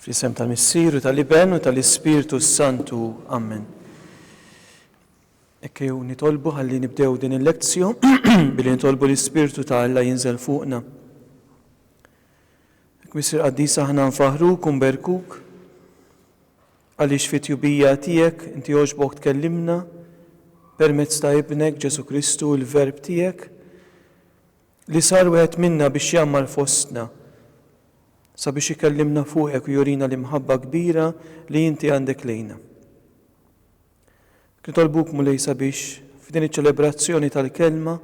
Fl-isem tal-Missiru, tal-Iben u tal-Ispirtu Santu. Amen. Ekkew nitolbu ħalli nibdew din il-lezzju billi nitolbu l-Ispirtu ta' Alla jinżel fuqna. Ek misir qaddis aħna nfaħru kum berkuk. Għaliex fit-tjubija tiegħek inti għoġbok tkellimna permezz ta' Ibnek, Ġesù Kristu, il-Verb tiegħek, li sar wieħed minna biex jgħammar fostna, sabiex ikellimna fuqek u jurina l-imħabba kbira li inti għandek lejna. Nitolbuk, Mulej, sabiex f'din iċ-ċelebrazzjoni tal-Kelma,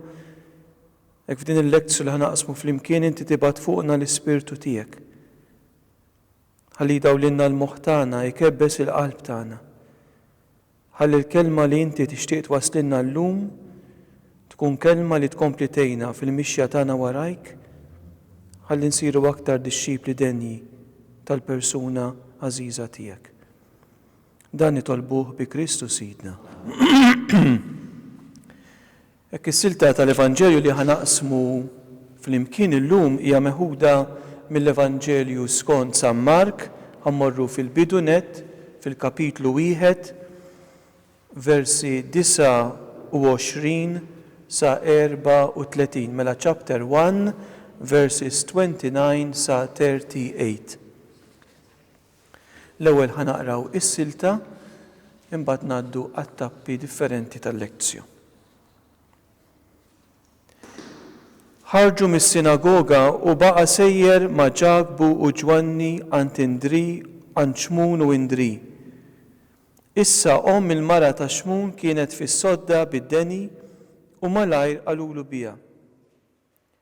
hekk f'din il-lektju li ħanaqsmu flimkien inti tibgħat fuqna l-Ispirtu tiegħek. Ħalli jdawlilna l-moħħ tagħna, jkebbes il-qalb tagħna. Ħalli l-kelma li Inti tixtieq twasslilna llum tkun kelma li tkompli tgħinna fil-mixja tagħna warajk, ħalli nsiru aktar dixxipli denji tal-persuna għażiża Tiegħek. Dan nitolbuh bi Kristu Sidna. Hekk is-silta tal-Evanġelju li ħa naqsmu flimkien illum hija meħuda mill-Evanġelju skont San Mark, ħa mmorru fil-bidu nett, fil-kapitlu wieħed, versi 29 sa 34, mela chapter one, verses 29 sa 38. L-ewwel ħa naqraw is-silta, imbagħad ngħaddu għat-tappi differenti tal-lektio. Ħarġu mis-sinagoga u baqa' sejjer ma' Ġakbu u Ġwanni għand Indri, għand Xmun u Indri. Issa omm il-mara ta' Xmun kienet fis-sodda bid-deni u malajr qalulu biha.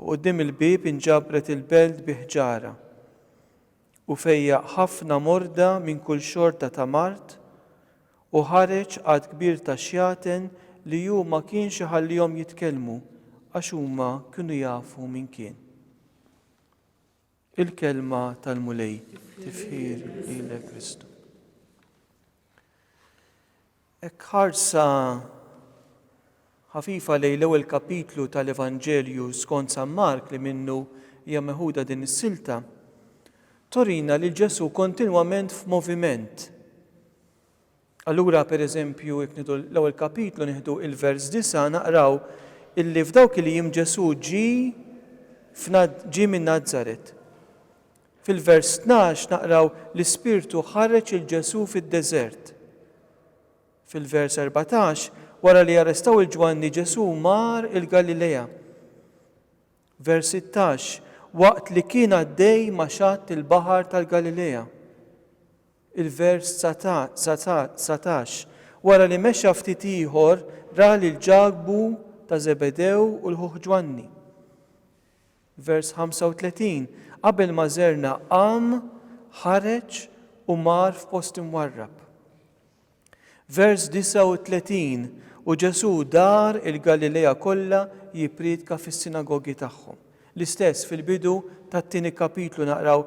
U quddiem il-bieb inġabret il-belt bi ħġarha. U fejjaq ħafna morda minn kull xorta ta' mard, u ħareġ għadd kbir ta' xjaten li hu ma kienx iħallihom jitkellmu, għax huma kienu jafu min kien. Il-kelma tal-Mulej tifħir lilek Kristu. Ek ħarsa ħafifa lej l-ewwel kapitlu tal-Evanġelju skont San Mark li minnu hija meħuda din is-silta, torina li Ġesu kontinwament f'moviment. Allura, per eżempju, jekk nieħdu l-ewwel kapitlu nieħdu il-vers disa' naqraw illi f'dawk il-jiem Ġesù ġie f'Nad ġie minn Nazaret. Fil-vers tnax naqraw l-Ispirtu ħareġ 'il Ġesù fid-deżert. Fil-vers erbatax wara li arrestaw 'il Ġwanni Ġesù mar il-Galilea. Vers sittax waqt li kien għaddej ma' xatt il-baħar tal-Galilea. Il-vers 19, Wara li mexa ftit ieħor, ra lil Ġakbu ta' Żebedew u l-ħuh Ġwanni. Vers 35, Qabel ma żerna qam, ħareġ u mar f'post imwarrab. Vers 39, U Ġesù dar il-Galilea kollha jippriedka fis-sinagogi tagħhom. L-istess fil-bidu tat-tieni kapitlu naqraw,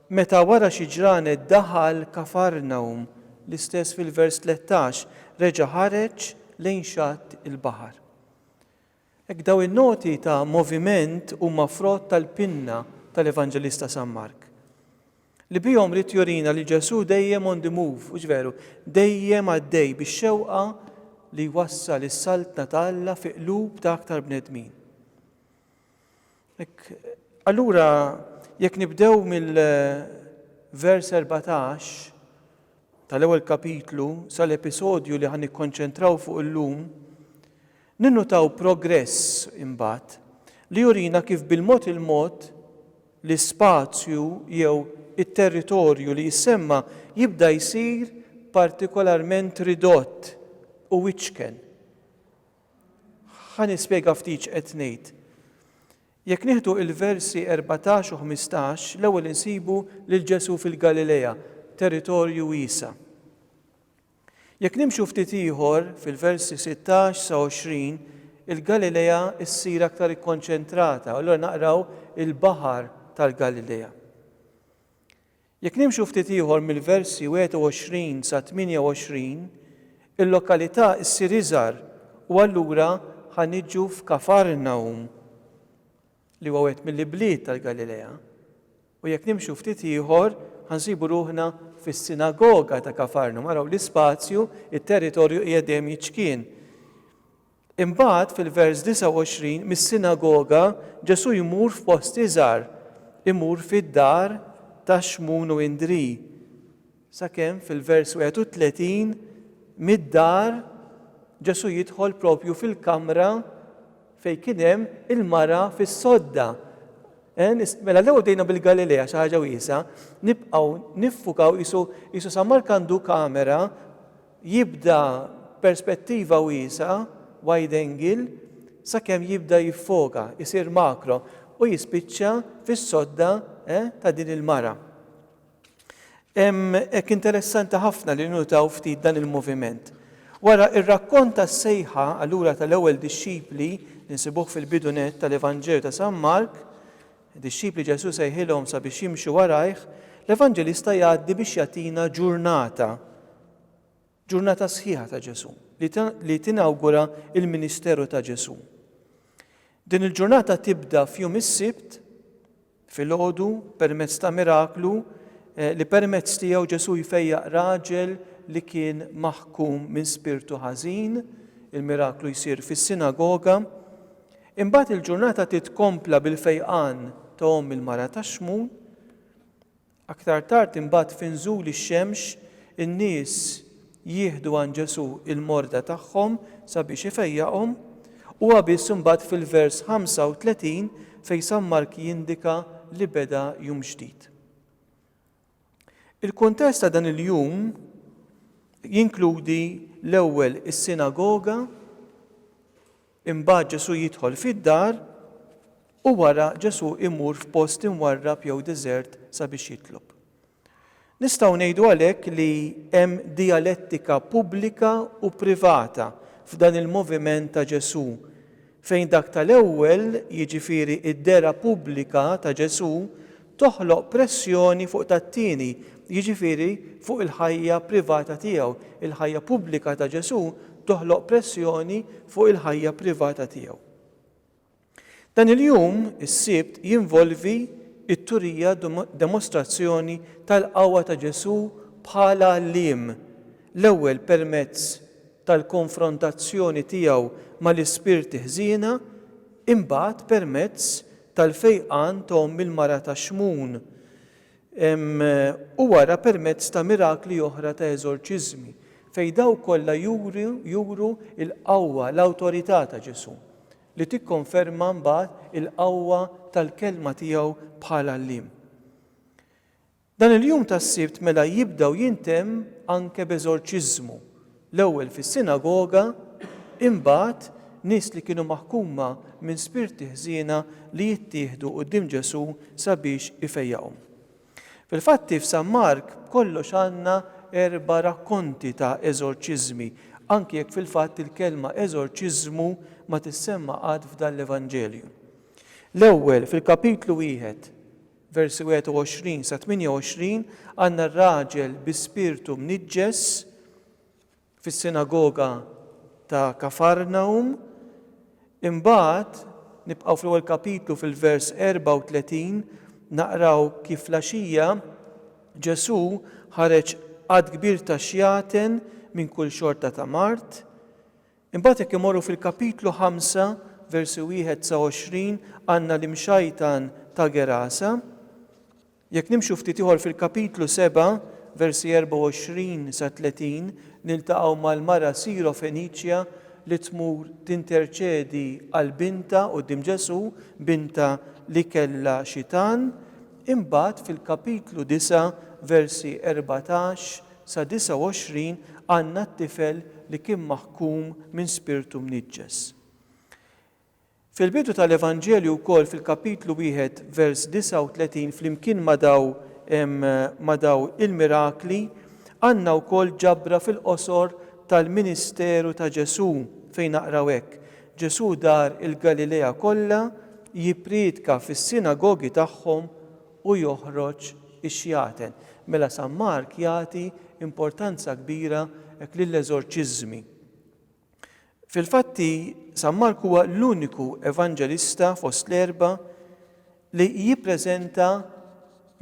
Meta wara xi ġranet daħal Kafarnawm, l-istess fil-vers 13, reġa' ħareġ lejn xatt il-baħar. Hekk dawn in-noti ta' moviment huma frott tal-pinna tal-Evanġelista San Mark. Li bihom ried jurina li Ġesù dejjem on the move, hux veru? Dejjem għaddej bix-xewqa li jwassal is-Saltna ta' Alla fi qlub ta' aktar bnedmin. Hekk, allura jekk nibdew mill-vers 14 tal-ewwel kapitlu sal-episodju li ħa nikkonċentraw fuq illum, Ninnutaw progress, imbagħad, li jurina kif bil-mod il-mod l-ispazju jew it-territorju li jissemma jibda jsir partikolarment ridott u wiċken. Ħa nispjega ftit x'qed ngħid. Jekk nieħdu l-versi erbatax u ħmistax, l-ewwel insibu lil Ġesù fil-Galilea, territorju wiesa'. Jekk nimxu ftit ieħor, fil-versi 16 sa 20, il-Galilea ssir aktar ikkonċentrata, u allura naqraw il-baħar tal-Galilea. Jekk nimxu ftit ieħor mill-versi 21 sa 28, il-lokalità ssir iżgħar u allura ħa niġu f'Kafarnahum, li huwa wieħed mill-ibliet tal-Galilea. U jekk nimxu ftit ieħor, ħa nsibu ruħna fis-sinagoga ta' Kafarnum. Araw l-ispazju, it-territorju qiegħed dejjem jiċkien. Imbagħad fil-vers 29 mis-sinagoga Ġesù jmur f'post iżgħar, imur fid-dar ta' Xmun u Indri. Sakemm fil-vers 31, mid-dar, Ġesù jidħol proprju fil-kamra fejn kien hemm il-mara fis-sodda. Mela l-ewwel bdejna bil-Galilea xi ħaġa wiesgħa, nibqgħu niffukaw qisu San Mark għandu kamera jibda perspettiva wiesgħa, wide angle, sakemm jibda jiffoka, isir makro u jispiċċa fis-sodda ta' din il-mara. Hekk interessanti ħafna li ninnutaw ftit dan il-moviment. Wara r-rakkont tas-sejħa allura tal-ewwel dixxipli li nsibuh fil-bidu nett tal-Evanġelju ta' San Mark, dixxipli Ġesù sejħilhom sabiex jimxu warajh, l-Evanġelista jgħaddi biex jagħtina ġurnata, ġurnata sħiħa ta' Ġesù, li tinawgura l-ministeru ta' Ġesù. Din il-ġurnata tibda f'jum is-Sibt Filgħodu, permezz ta' miraklu, li permezz tiegħu Ġesù jfejjaq raġel li kien maħkum minn spirtu ħażin, il-miraklu jsir fis-sinagoga. Imbagħad il-ġurnata titkompla bil-fejqan ta' omm il-mara tax-xmun. Aktar tard imbagħad fi nżul ix-xemx in-nies jieħdu għand Ġesù l-morda tagħhom sabiex ifejjaqhom. Huwa biss imbagħad fil-vers 35 fejn San Mark jindika li beda jum ġdid. Il-kuntest ta' dan il-jum jinkludi l-ewwel is-sinagoga Imbagħad Ġesù jidħol fid-dar u wara Ġesù imur f'post imwarrab jew deżert sabiex jitlob. Nistgħu ngħidu għalhekk li hemm dijalettika pubblika u privata f'dan il-moviment ta' Ġesù, fejn dak tal-ewwel, jiġifieri d-dehra pubblika ta' Ġesù, toħloq pressjoni fuq tat-tieni, jiġifieri fuq il-ħajja privata tiegħu, il-ħajja pubblika ta' Ġesù toħloq pressjoni fuq il-ħajja privata tiegħu. Dan il-jum, is-Sibt, jinvolvi t-turija demostrazzjoni tal-qawwa ta' Ġesù bħala għalliem, l-ewwel permezz tal-konfrontazzjoni tiegħu mal-ispirti ħżiena, imbagħad permezz tal-fejqan ta' omm il-mara ta' Xmun, u wara permezz ta' mirakli oħra ta' eżorċiżmi, fejn dawk kollha juru l-qawwa, l-awtorità ta' Ġesù, li tikkonferma mbagħad il-qawwa tal-kelma tiegħu bħala għalliem. Dan il-jum tas-Sibt mela jibda u jintemm anke b'eżorċiżmu, l-ewwel fis-sinagoga, imbagħad nies li kienu maħkuma minn spirti ħżiena li jittieħdu quddiem Ġesù sabiex ifejjaqhom. Fil-Fatti f'San Mark b'kollox għandna erba' rakkonti ta' eżorċiżmi, anki jekk fil-fatt il-kelma eżorċiżmu ma tissemma qatt f'dan l-Evanġelju. L-ewwel fil-kapitlu wieħed. versi 21 sa 28, għandna r-raġel bi spirtu mniġġes fis-sinagoga ta' Kafarnawm. Imbagħad, nibqgħu fl-ewwel kapitlu fil-vers 34, naqraw kif fl-għaxija Ġesù ħareġ għadd kbir ta' xjaten minn kull xorta ta' mard. Imbagħad jekk imorru fil-kapitlu ħamsa, versi wieħed sa għoxrin, għandna l-imxajtan ta' Gerasa. Jekk nimxu ftit ieħor fil-kapitlu seba', versi erbgħa u għoxrin sa tletin, niltaqgħu mal-mara Sirofeniċja li tmur tinterċedi għal bintha quddiem Ġesù, bintha li kellha xitan. Imbagħad fil-kapitlu disa', versi erbatax Sa 29 għandna t-tifel li kien maħkum minn spirtu mniġġes. Fil-bidu tal-Evanġelju wkoll fil-kapitlu wieħed vers 39 flimkien ma' daw ma' daw il-mirakli għandna wkoll ġabra fil-qosor tal-ministeru ta' Ġesù fejn naqraw hekk, Ġesù dar il-Galilea kollha jippriedka fis-sinagogi tagħhom u joħroġ ix-xjaten. Mela San Mark jagħti importanza kbira hekk lill-eżorċiżmi. Fil-fatti, San Mark huwa l-uniku evanġelista fost l-erba' li jippreżenta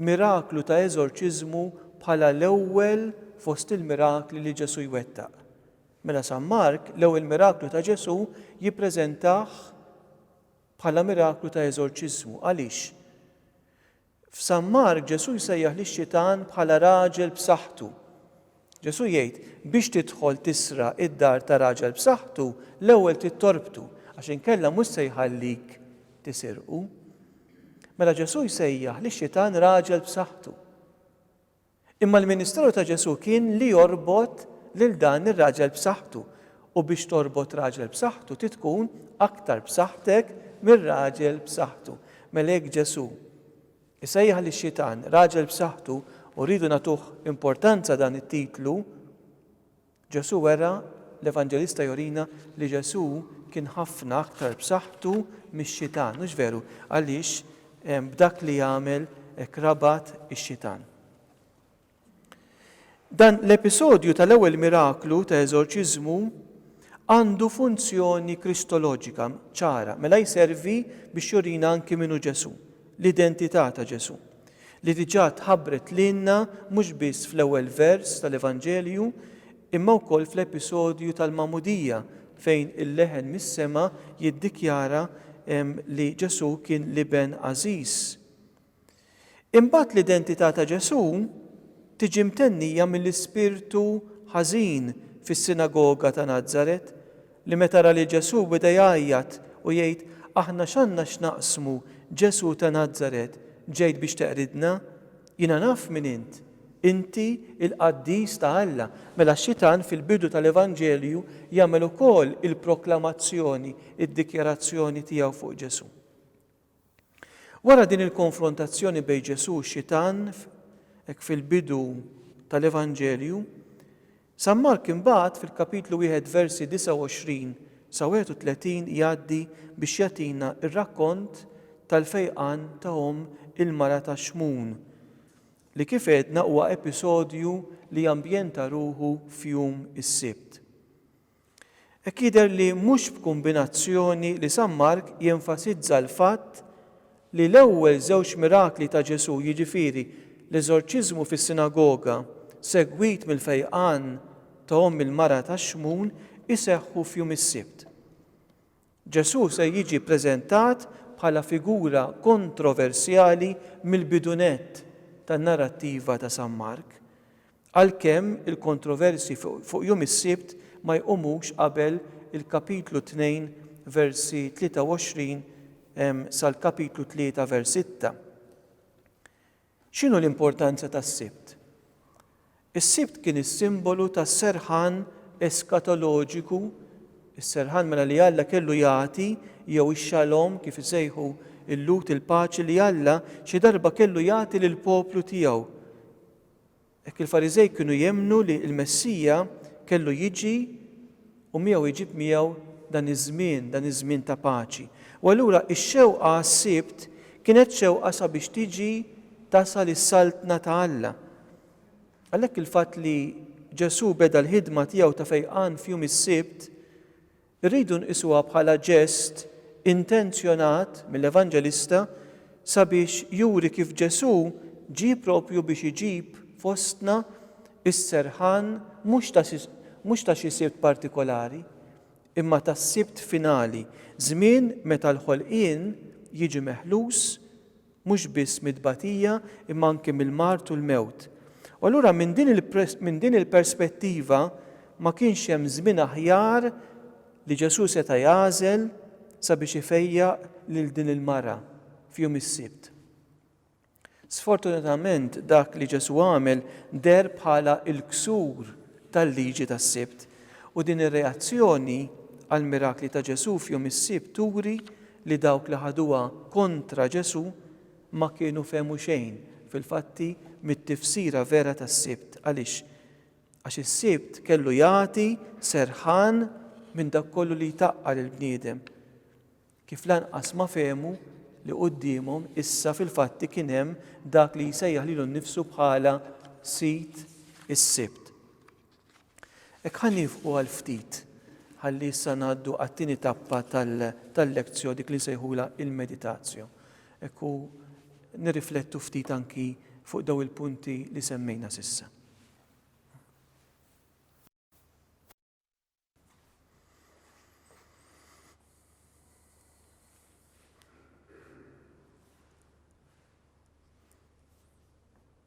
miraklu ta' eżorċiżmu bħala l-ewwel fost il-mirakli li Ġesù jwettaq. Mela San Mark l-ewwel miraklu ta' Ġesù jippreżentah bħala miraklu ta' eżorċiżmu. Għaliex? F'San Mark Ġesù jsejjaħ lix-xitan bħala raġel b'saħħtu. Ġesù jgħid, Biex tidħol tisraq id-dar ta' raġel b'saħħtu, l-ewwel trid torbtu, għax inkella mhux se jħallik tisirqu. Mela Ġesù jsejjaħ lix-xitan raġel b'saħħtu. Imma l-ministeru ta' Ġesù kien li jorbot lil dan ir-raġel b'saħħtu, u biex torbot raġel b'saħħtu trid tkun aktar b'saħħtek mir-raġel b'saħħtu. Mela jekk Ġesù jsejjaħ lix-xitan raġel b'saħħtu u rridu nagħtuh importanza dan it-titlu, Ġesù wera, L-Evanġelista jurina li Ġesù kien ħafna aktar b'saħħtu mix-xitan, hux veru? Għaliex? B'dak li għamel hekk rabat ix-xitan. Dan l-episodju tal-ewwel miraklu ta' eżorċiżmu għandu funzjoni kristoloġika ċara, mela jservi biex jurina anki min hu Ġesù. l-identità ta' Ġesù, li diġà tħabbret lilna mhux biss fl-ewwel vers tal-Evanġelju imma wkoll fl-episodju tal-Magħmudija fejn il-leħen mis-sema jiddikjara li Ġesù kien l-Iben għażiż. Imbagħad l-identità ta' Ġesù tiġi mtennija mill-ispirtu ħażin fis-sinagoga ta' Nazaret Li meta ra lil Ġesù beda jgħajjat u jgħid, Aħna x'għandna x'naqsmu, Ġesù ta' Nazaret, ġejt biex teqridna? Jiena naf min int, inti l-qaddis ta' Alla. Mela x-xitan fil-bidu tal-Evanġelju jagħmel ukoll il-proklamazzjoni, id-dikjarazzjoni tiegħu fuq Ġesù. Wara din il-konfrontazzjoni bejn Ġesù u xitan, hekk fil-bidu tal-Evanġelju, San Mark imbagħad fil-kapitlu wieħed versi 29 sa 31 jgħaddi biex jagħtina r-rakkont tal-fejqan ta' omm il-mara ta' Xmun, li kif għedna huwa episodju li ambjenta ruħu f'jum is-Sibt. Hekk jidher li mhux b'kumbinazzjoni li San Mark jenfasizza l-fatt li l-ewwel żewġ mirakli ta' Ġesù, jiġifieri l-eżorċiżmu fis-sinagoga segwit mill-fejqan ta' omm il-mara tax-xmun, iseħħu f'jum is-Sibt. Ġesù se jiġi ppreżentat bħala figura kontroversjali mill-bidu nett tan-narrattiva ta' San Mark, għalkemm il-kontroversji fuq jum is-Sibt ma jqumux qabel il-Kapitlu 2 versi 23 sal-Kapitlu 3 vers 6. X'inhu l-importanza tas-Sibt? Is-Sibt kien is-simbolu tas-serħan eskatoloġiku, is-serħan mela li Alla kellu jagħti, jew ix-xalom kif isejħu l-Lhud il-paċi li Alla xi darba kellu jagħti lill-poplu tiegħu. Hekk il-Fariżej kienu jemmnu li l-Messija kellu jiġi u miegħu jġib miegħu dan iż-żmien, dan iż-żmien ta' paċi. U allura x-xewqa għas-Sibt kienet xewqa sabiex tiġi, tasal is-Saltna ta' Alla. Għalhekk il-fatt li Ġesù beda l-ħidma tiegħu ta' fejqan f'jum is-Sibt Irridu nqisuha bħala ġest intenzjonat mill-Evanġelista sabiex juri kif Ġesù ġie proprju biex iġib fostna s-serħan mhux ta' xi Sibt partikolari, imma tas-Sibt finali, żmien meta l-ħolqien jiġi meħlus mhux biss mit-tbatija imma anki mill-mard u l-mewt. U allura minn din minn din il-perspettiva ma kienx hemm żmien aħjar li Ġesù seta' jagħżel sabiex ifejjaq lil din il-mara f'jum is-Sibt. Sfortunatament dak li Ġesù għamel deher bħala l-ksur tal-liġi tas-Sibt u din ir-reazzjoni għall-mirakli ta' Ġesù f'jum is-Sibt turi li dawk li ħaduha kontra Ġesù ma kienu fehmu xejn, fil-fatti, mit-tifsira vera tas-Sibt. Għaliex? Għax is-Sibt kellu jagħti serħan minn dak kollu li jtaqqa' lill-bniedem, kif lanqas ma fehmu li quddiemhom issa fil-fatti kien hemm dak li jsejjaħ lilu nnifsu bħala Sid is-Sibt. Hekk ħa niefqu għal ftit ħalli issa ngħaddu għat-tieni tappa tal-lectio dik li nsejħulha il-meditatio. Hekk u nirriflettu ftit anki fuq daw il-punti li semmejna s'issa.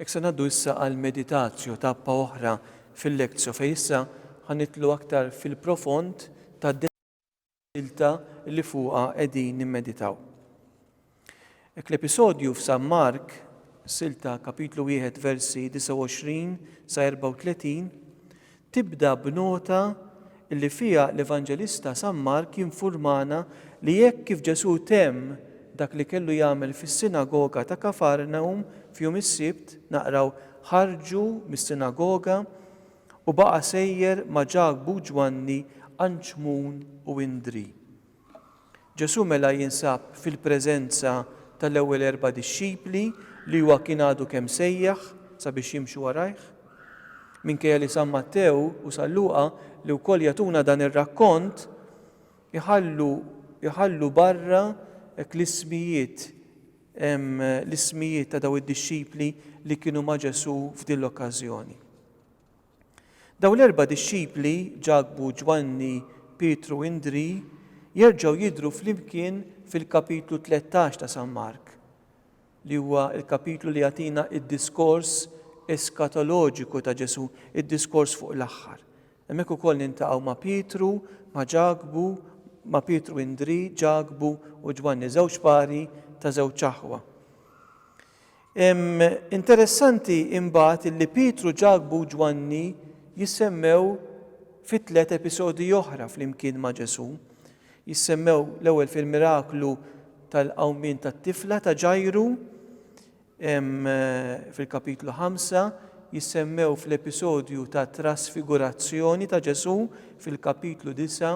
Ek se naddu issa għal meditazju tappa oħra fil-lekzju fej issa ħanitlu aktar fil-profond ta' dilta li fuqa qegħdin nimmeditaw. Hekk l-episodju f'San Mark, Silta, Kapitlu 1, versi 29 sa 34, tibda b'nota li fiha l-Evanġelista San Mark jinfurmana li hekk kif Ġesù temm dak li kellu jagħmel fis-sinagoga ta' Kafarnawm f'jum is-Sibt, naqraw, ħarġu mis-sinagoga u baqa' sejjer ma' Ġakbu, Ġwanni, Anċmun u Indri. Ġesù mela jinsab fil-preżenza tal-ewwel erba' dixxipli li huwa kien għadu kemm sejjaħ sabiex jimxu warajh. Minkejja li San Mattew u San Luqa, li wkoll jagħtuna dan ir-rakkont, iħallu iħallu barra hekk l-ismijiet l-ismijiet ta' dawn id-dixxipli li kienu ma' Ġesù f'din l-okkażjoni. Dawn l-erba' dixxipli, Ġakbu, Ġwanni, Pietru u Indrì, jerġgħu jidhru flimkien fil-kapitlu tlettax ta' San Mark, li huwa l-kapitlu li jagħtina d-diskors eskatoloġiku ta' Ġesù, id-diskors fuq l-aħħar. Hemmhekk ukoll niltaqgħu ma' Pietru, ma' Ġakbu, ma' Pietru u Indrì, Ġakbu u Ġwanni, żewġ pari ta' żewġ aħwa. Interessanti imbagħad illi Pietru, Ġakbu u Ġwanni jissemmew fi tliet episodji oħra flimkien ma' Ġesù. Jissemmew l-ewwel fil-miraklu tal-qawmien tat-tifla ta' Ġajru fil-kapitlu 5, jissemmew fl-episodju ta' trasfigurazzjoni ta' Ġesù fil-kapitlu 9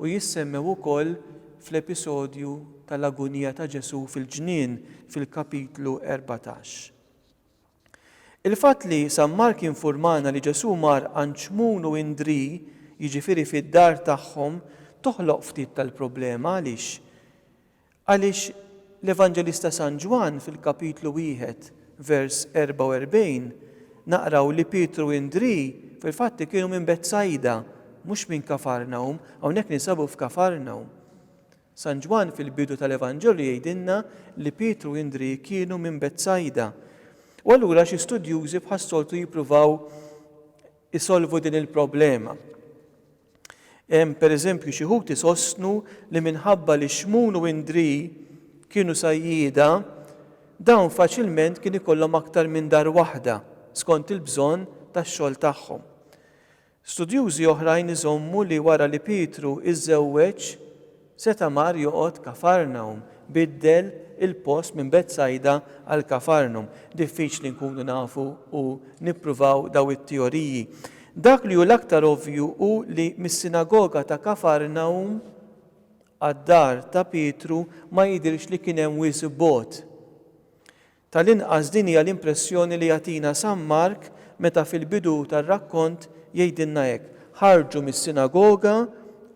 u jissemmew ukoll fl-episodju tal-agunija ta' Ġesù fil-ġnien fil-Kapitlu 14. Il-fatt li San Mark jinfurmana li Ġesù mar għand Xmun u Indrì, jiġifieri fid-dar tagħhom, toħloq ftit tal-problema. Għaliex? Għaliex l-Evanġelista San Ġwann fil-Kapitlu wieħed vers 44, naqraw li Pietru u Indrì fil-fatt kienu minn Betsajda, mhux minn Kafarnawm, hawnhekk ninsabu f'Kafarnawm. San Ġwann fil-bidu tal-Evanġelju jgħidilna li Pietru u Indrì kienu minn Betsajda. U allura xi studjużi bħas-soltu jippruvaw isolvu din il-problema. Per eżempju, xi wħud isostnu li minħabba li Xmun u Indri kienu sajjieda, dawn faċilment kien ikollhom aktar minn dar waħda skont il-bżonn tax-xogħol tagħhom. Studjużi oħrajn iżommu li wara li Pietru iżżewweġ, Seta' mar joqgħod Kafarnawm, biddel il-post minn Betsajda għal Kafarnum. Diffiċli nkunu nafu u nippruvaw dawn it-teoriji. Dak li hu l-aktar ovvju hu li mis-sinagoga ta' Kafarnawm għad-dar ta' Pietru ma jidhirx li kien hemm wisq bogħod. Tal-inqas din hija l-impressjoni li jagħtina San Mark meta fil-bidu tar-rakkont jgħidilna hekk, Ħarġu mis-sinagoga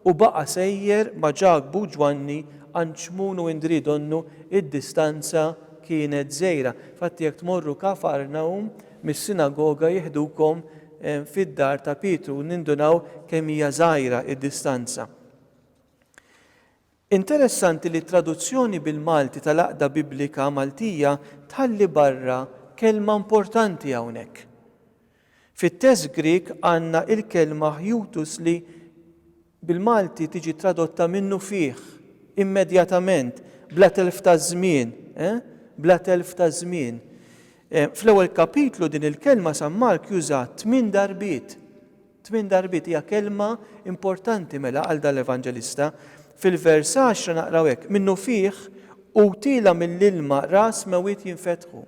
u baqa' sejjer ma' Ġakbu u Ġwanni għand Xmun u Indrì donnu d-distanza kienet żgħira. Infatti jekk tmorru Kafarnawm mis-sinagoga jiħdukom fid-dar ta' Pietru u nindunaw kemm hija żgħira d-distanza. Interessanti li t-traduzzjoni bil-Malti tal-Għaqda Biblika Maltija tħalli barra kelma importanti hawnhekk. Fit-test Grieg għandna il-kelma hjutus li bil-Malti tiġi tradotta minnu fih, immedjatament, bla telf ta' żmien, eh? bla telf ta' żmien. Fl-ewwel kapitlu din il-kelma San Mark jużaha tmien darbiet. Tmien darbiet hija kelma importanti mela għal dan l-evanġelista. Fil-vers għaxra naqraw hekk, Minnufih għutielha mill-ilma ras mewit jinfetħu.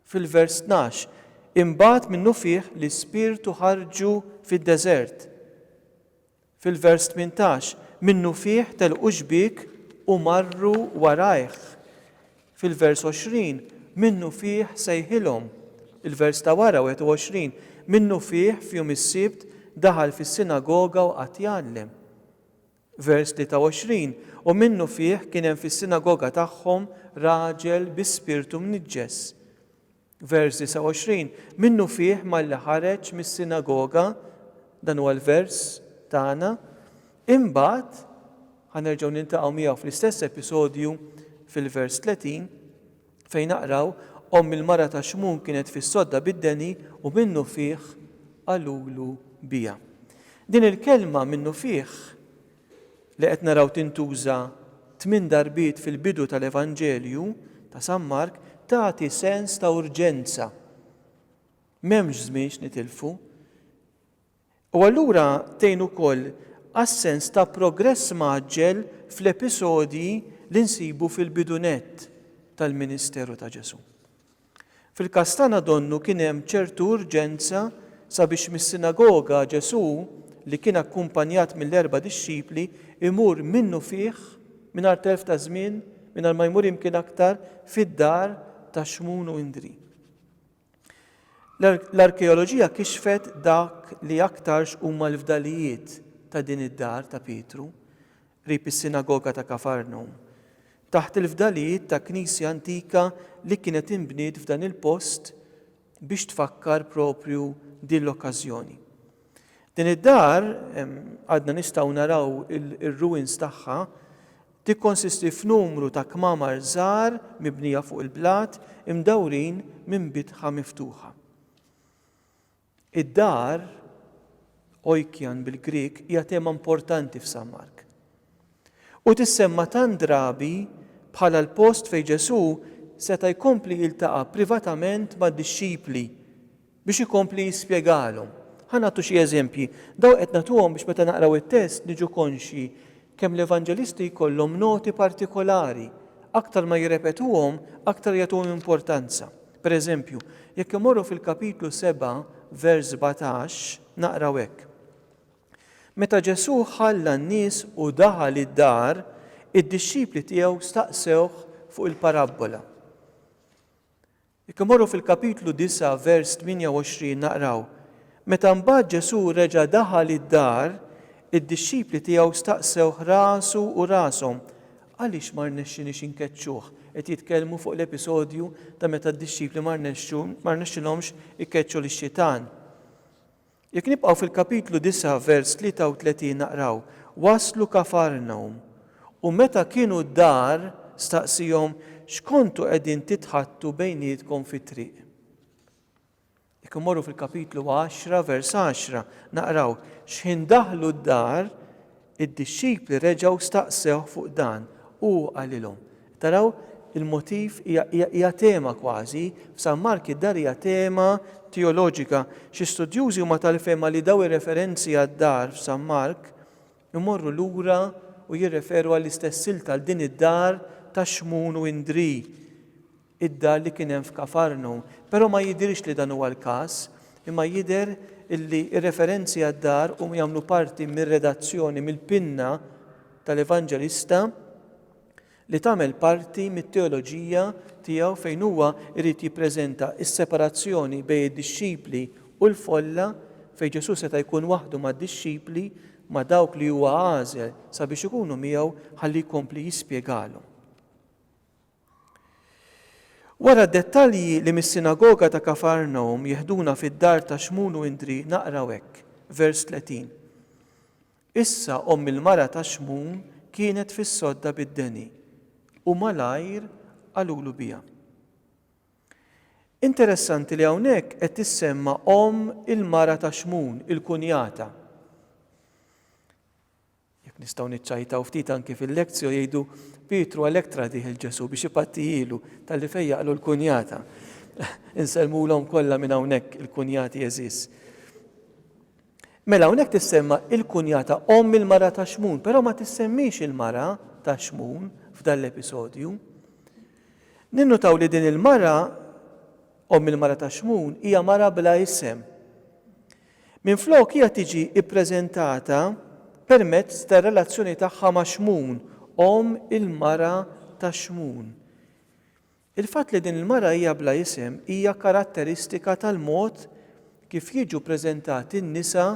Fil-vers tnax, Imbagħad minnufih l-ispirtu ħarġu fid-deżert. Fil-vers 18, Minnufih telqu xbiek u marru warajh. Fil-vers 20, Minnufih sejħilhom. Il-vers ta' wara, 21, Minnufih f'jum is-Sibt daħal fis-sinagoga u qagħad jgħallem. Vers 23, U minnufih kien hemm fis-sinagoga tagħhom raġel bi spirtu mniġġes. Vers 29, Minnufih malli ħareġ mis-sinagoga, dan huwa l-vers tagħna, imbagħad, ħa nerġgħu niltaqgħu miegħu fl-istess episodju fil-vers 30, fejn naqraw, Omm il-mara ta' Xmun kienet fis-sodda bid-deni u minnufih qalulu biha. Din il-kelma minnufih li qed naraw tintuża tmien darbiet fil-bidu tal-Evanġelju ta' San Mark tagħti sens ta' urġenza. M'hemmx żmien x'nitilfu. U allura tgħin ukoll għas-sens ta' progress mgħaġġel fl-episodji li nsibu fil-bidu nett tal-ministeru ta' Ġesù. Fil-każ tagħna donnu kien hemm ċertu urġenza sabiex mis-sinagoga Ġesù, li kien akkumpanjat mill-erba' dixxipli, imur minnufih, mingħajr telf ta' żmien, mingħajr ma jmur imkien aktar, fid-dar ta' Xmun u Indri. L-arkeoloġija kixfet dak li aktarx huma l-fdalijiet ta' din id-dar ta' Pietru. qrib is-sinagoga ta' Kafarnum, taħt il-fdalijiet ta' knisja antika li kienet inbniet f'dan il-post biex tfakkar proprju din l-okkażjoni. Din id-dar, għadna nistgħu naraw ir-ruwins tagħha, tikkonsisti f'numru ta' kmamar żgħar mibnija fuq il-blat imdawrin minn bitħa miftuħa. Id-dar, oikian bil-Grieg, hija tema importanti f'San Mark. U tissemma tant drabi bħala l-post fejn Ġesù seta' jkompli jiltaqa' privatament mad-dixxipli biex ikompli jispjegalhom. Ħa nagħtu xi eżempji. Dawn qed nagħtuhom biex meta naqraw it-test niġu konxji kemm l-Evanġelisti jkollhom noti partikolari, aktar ma jirrepetuhom, aktar jagħtuhom importanza. Pereżempju, jekk immorru fil-Kapitlu 7, vers 17, naqraw hekk, Meta Ġesù ħalla n-nies u daħal id-dar, id-dixxipli tiegħu staqsewh fuq il-parabbola. Jekk immorru fil-Kapitlu 9, vers 28, naqraw, Meta mbagħad Ġesù reġa' daħal id-dar, id-dixxipli tiegħu staqsewh rasu u rashom, Għaliex ma rnexxiniex inkeċċuh? Qed jitkellmu fuq l-episodju ta' meta d-dixxipli ma rnexxu, ma rnexxilhomx ikeċċu lix-xitan. Jekk nibqgħu fil-kapitlu 9 vers 33 naqraw, Waslu Kafarnawm, u meta kienu d-dar, staqsihom, X'kontu qegħdin titħaddtu bejnietkom fit-triq? Jekk immorru fil-kapitlu għaxra, vers għaxra, naqraw, Xħin daħlu d-dar, id-dixxipli reġgħu staqsewh fuq dan, u hu qalilhom. Taraw, il-motiv hija hija tema kważi, f'San Mark id-dar hija tema teoloġika. Xi studjużi huma tal-fehma li dawn ir-referenzi għad-dar f'San Mark imorru lura u jirreferu għall-istess silta għal din id-dar ta' Xmun u Indri. id-dar li kien hemm f'Kafarnu, però ma jidhirx li dan huwa l-każ, imma jidher li r-referenzi għad-dar huma jagħmlu parti mir-redazzjoni mill-pinna tal-Evanġelista li tagħmel parti mit-teoloġija tiegħu fejn huwa jrid jippreżenta s-separazzjoni bejn id-dixxipli u l-folla fejn Ġesù seta' jkun waħdu mad-dixxipli, ma' dawk li huwa għażel sabiex ikunu miegħu ħalli jkompli jispjegalhom. Wara d-dettalji li mis-sinagoga ta' Kafarnawm jeħduna fid-dar ta' Xmun u Indri naqraw hekk, vers 30, Issa omm il-mara ta' Xmun kienet fis-sodda bid-deni, u malajr qalulu biha. Interessanti li hawnhekk qed tissemma omm il-mara ta' Xmun, il-kunjata. Jekk nistgħu niċċajtaw ftit anki fil-lectio jgħidu, Pietru għalhekk tradih il-Ġesù biex ipattijilu talli fejjaqlu l-kunjata. Insellmulhom kollha minn hawnhekk il-kunjati għeżież. Mela hawnhekk tissemma il-kunjata omm il-mara ta' Xmun, però ma tissemmix il-mara ta' Xmun f'dan l-episodju. Ninnutaw li din il-mara omm il-mara ta' Xmun hija mara bla isem. Minflok hija tiġi ppreżentata permezz tar-relazzjoni tagħha ma' Xmun, omm il-mara ta' Xmun. Il-fatt li din il-mara hija bla isem hija karatteristika tal-mod kif jiġu ppreżentati n-nisa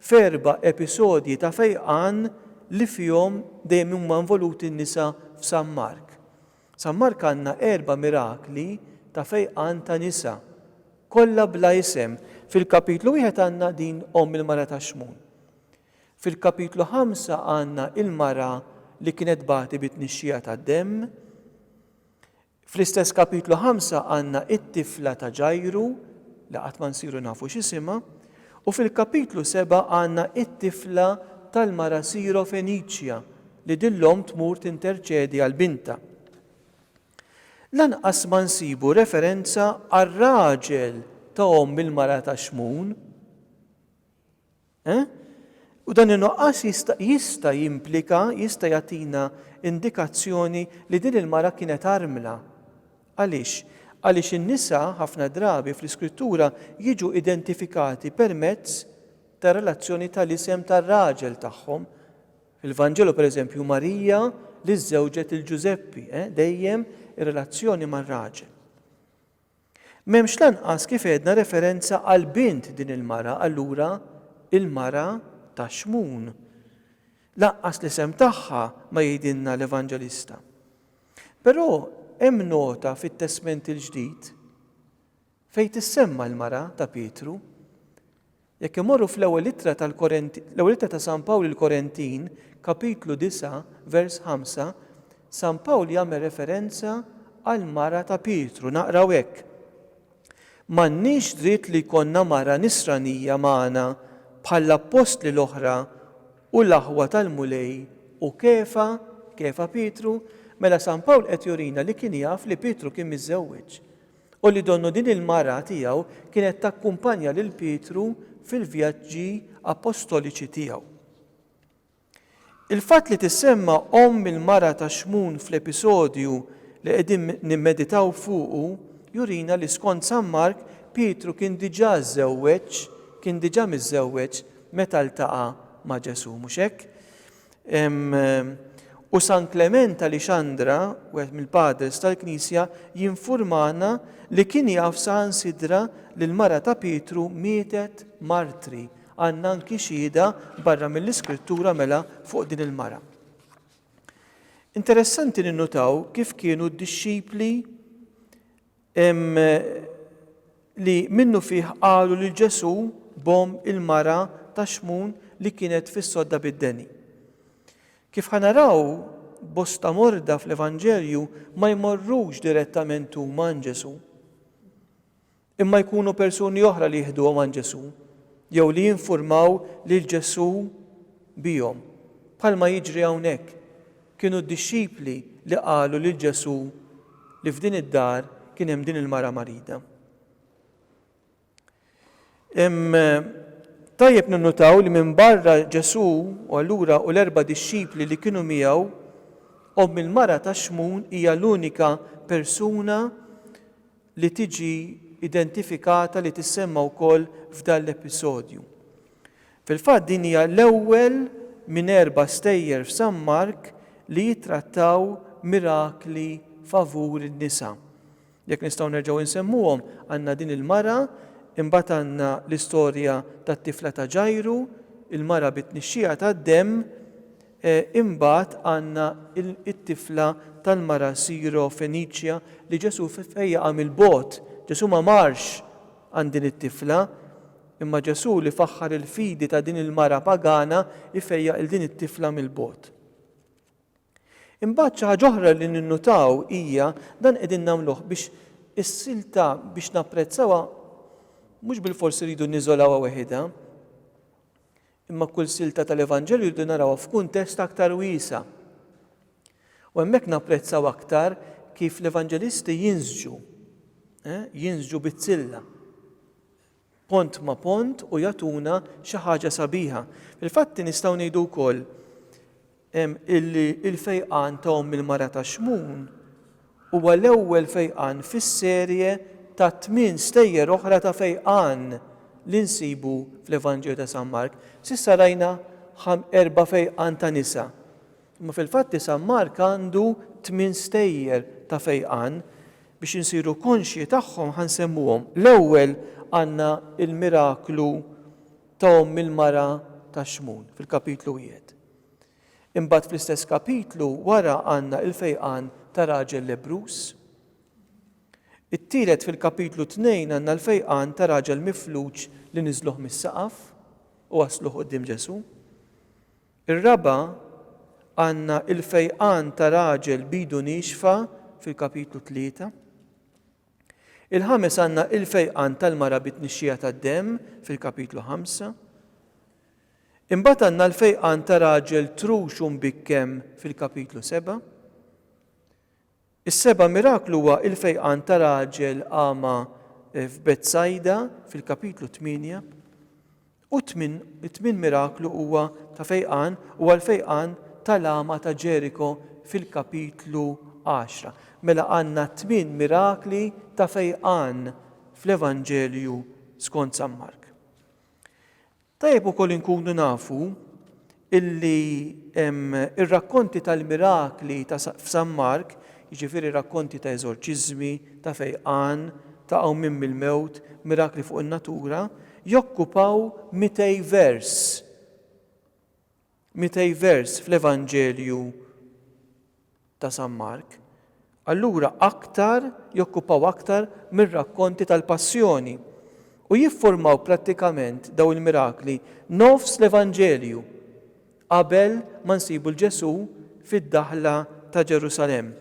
f'erba' episodji ta' fejqan li fihom dejjem huma involuti n-nisa f'San Mark. San Mark għandna erba' mirakli ta' fejqan ta' nisa, kollha bla isem. Fil-kapitlu wieħed għandna din omm il-mara ta' Xmun. Fil-kapitlu ħamsa għandna il-mara li kienet tbati bi tnixxija tad-demm. Fl-istess kapitlu ħamsa għandna it-tifla ta' Ġajru li qatt ma nsiru nafu x'isimha. U fil-kapitlu seba' għandna it-tifla tal-mara Siro Feniċja li din l-omm tmur tinterċedi għal bintha. Lanqas ma nsibu referenza għar-raġel ta' omm il-mara ta' Xmun. Eh? U dan in-nuqqas jista' jista' jimplika, jista' jagħtina indikazzjoni li din il-mara kienet armla. Għaliex? Għaliex in-nisa ħafna drabi fl-Iskrittura jiġu identifikati permezz tar-relazzjoni tal-isem tar-raġel tagħhom. Fil-Vanġelu pereżempju hu Marija li żżewġet lil Ġużeppi, eh, dejjem ir-relazzjoni mar-raġel. M'hemmx lanqas kif għedna referenza għal bint din il-mara, allura il-mara ta' Xmun. Lanqas l-isem tagħha ma jgħidilna l-Evanġelista. Però hemm nota fit-Testment il-Ġdid, Fejn tissemma l-mara ta' Pietru? Jekk imorru fl-Ewwel Ittra tal-Ewwel Ittra ta' San Pawl lill-Korentin, Kapitlu 9, vers 5, San Pawl jagħmel referenza għall-mara ta' Pietru, naqraw hekk, M'għandniex dritt li jkollna mara nisranija magħna bħall-appostli l-oħra u l-aħwa tal-Mulej u Kefa, Kefa Pietru, mela San Pawl qed jurina li kien jaf li Pietru kien miżżewweġ. u li donnu din il-mara tiegħu kienet takkumpanja lil Pietru fil-vjaġġi appostoliċi tiegħu. Il-fatt li tissemma omm il-mara ta' Xmun fl-episodju li qegħdin nimmeditaw fuqu jurina li skont San Mark Pietru kien diġà żżewweġ, kien diġà miżżewweġ meta ltaqa' ma' Ġesù, mhux hekk? U San Klement ta' Lixandra, wieħed mill-padres tal-Knisja, jinfurmana li kien jaf saħansitra li l-mara ta' Pietru mietet martri. Għandna anki xhieda barra mill-Iskrittura mela fuq din il-mara. Interessanti ninnutaw kif kienu d-dixxipli Hemm li minnufih qalu lil Ġesù b'omm il-mara ta' Xmun li kienet fis-sodda bid-deni. Kif ħa naraw, bosta morda fl-Evanġelju ma jmorrux direttament huma għand Ġesù, imma jkunu persuni oħra li jiħduhom għand Ġesù jew li jinfurmaw lil Ġesù bihom, bħalma jiġri hawnhekk. Kienu d-dixxipli li qalu lil Ġesù li f'din id-dar kien hemm din il-mara marida. Tajjeb ninnutaw li minbarra Ġesù u allura u l-erba' dixxipli li kienu miegħu, omm il-mara ta' Xmun hija l-unika persuna li tiġi identifikata li tissemma wkoll f'dan l-episodju. Fil-fatt din hija l-ewwel minn erba' stejjer f'San Mark li jittrattaw mirakli favur in-nisa. Jekk nistgħu nerġgħu nsemmuhom, għandna din il-mara, imbagħad għandna l-istorja tat-tifla ta' Ġajru, il-mara bit-tnixxija tad-demm, Imbagħad għandna t-tifla tal-mara Siro-Feniċja li Ġesù fejjaqha mill-bogħod. Ġesù ma marx għand din it-tifla, imma Ġesù li faħħar il-fidi ta' din il-mara pagana jfejjaq lil din it-tifla mill-bogħod. Imbagħad xi ħaġa oħra li ninnutaw hija dan qegħdin nagħmluh biex is-silta biex napprezzawha mhux bilfors irridu niżolawha weħidha, Imma kull silta tal-Evanġelju rridu narawha f'kuntest aktar wiesa'. U hemmhekk napprezzaw aktar kif l-Evanġelisti jinsġu, jinsġu bizzilla, pont ma' pont u jagħtuna xi ħaġa sabiħa. Fil-fatti nistgħu ngħidu wkoll illi l-fejqan ta' omm il-mara ta' Xmun huwa l-ewwel fejqan fis-serje ta' tmien stejjer oħra ta' fejqan li nsibu fl-Evanġelju ta' San Mark. S'issa rajna erba' fejqan ta' nisa, imma fil-fatti San Mark għandu tmien stejjer ta' fejqan. Biex insiru konxji tagħhom ħa nsemmuhom. L-ewwel għandna l-miraklu ta' omm il-mara ta' Xmun fil-kapitlu wieħed. Imbagħad fl-istess kapitlu wara għandna l-fejqan ta' raġel lebbruż. It-tielet fil-kapitlu tnejn għandna l-fejqan ta' raġel mifluġ li niżluh mis-saqaf u wasluh quddiem Ġesù. Ir-raba' għandna l-fejqan ta' raġel b'idu niexfa fil-kapitlu tlieta. Il-ħames għandna l-fejqan tal-mara bit-tnixxija tad-demm fil-kapitlu ħamsa. Imbagħad għandna l-fejqan ta' raġel trux u mbikkem fil-kapitlu seba'. Is-seba' miraklu huwa l-fejqan ta' raġel agħma f'Betsajda fil-kapitlu tmienja. U t-tmien, it-tmien miraklu huwa ta' fejqan huwa l-fejqan tal-agħma ta' Ġeriko fil-kapitlu għaxra. Mela għandna tmien mirakli ta' fejqan fl-Evanġelju skont San Mark. Tajjeb ukoll inkunu nafu illi r-rakkonti tal-mirakli ta' f'San Mark, jiġifieri rakkonti ta' eżorċiżmi, ta' fejqan, ta' qawmien mill-mewt, mirakli fuq in-natura, jokkupaw mitej vers. Mitej vers fl-Evanġelju ta' San Mark, allura aktar jokkupaw aktar mir-rakkonti tal-Passjoni, u jiffurmaw prattikament dawn il-mirakli nofs l-Evanġelju, qabel ma nsibu 'l Ġesù fid-daħla ta' Ġerusalemm.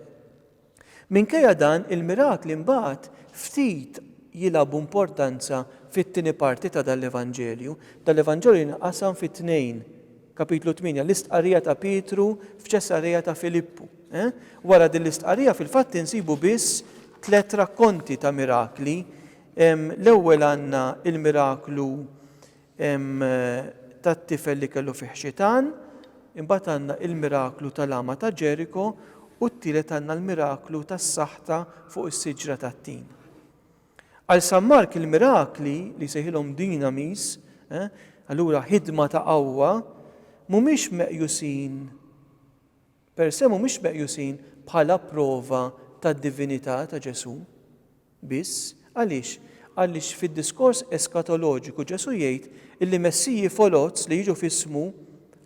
Minkejja dan il-mirakli mbagħad ftit jilagħbu importanza fit-tieni parti ta' dan l-Evanġelju. Dan l-Evanġelju jinqasam fi tnejn, Kapitlu 8, l-istqarrija ta' Pietru f'Ċesarea ta' Filippu. Wara din l-istqarrija fil-fatt insibu biss tliet rakkonti ta' mirakli. L-ewwel għandna l-miraklu tat-tifel li kellu fih xitan, imbagħad għandna il-miraklu tal-agħma ta' Ġeriko u t-tielet għandna l-miraklu tas-saħta fuq is-siġra tat-tin. Għal San Mark il-mirakli li jsejħilhom dynamis, allura ħidma ta' qawwa, mhumiex meqjusin per se mhumiex meqjusin bħala prova tad-divinità ta' Ġesù. Biss, għaliex? Għaliex fid-diskors eskatoloġiku Ġesù jgħid illi messiji foloz li jiġu f'ismu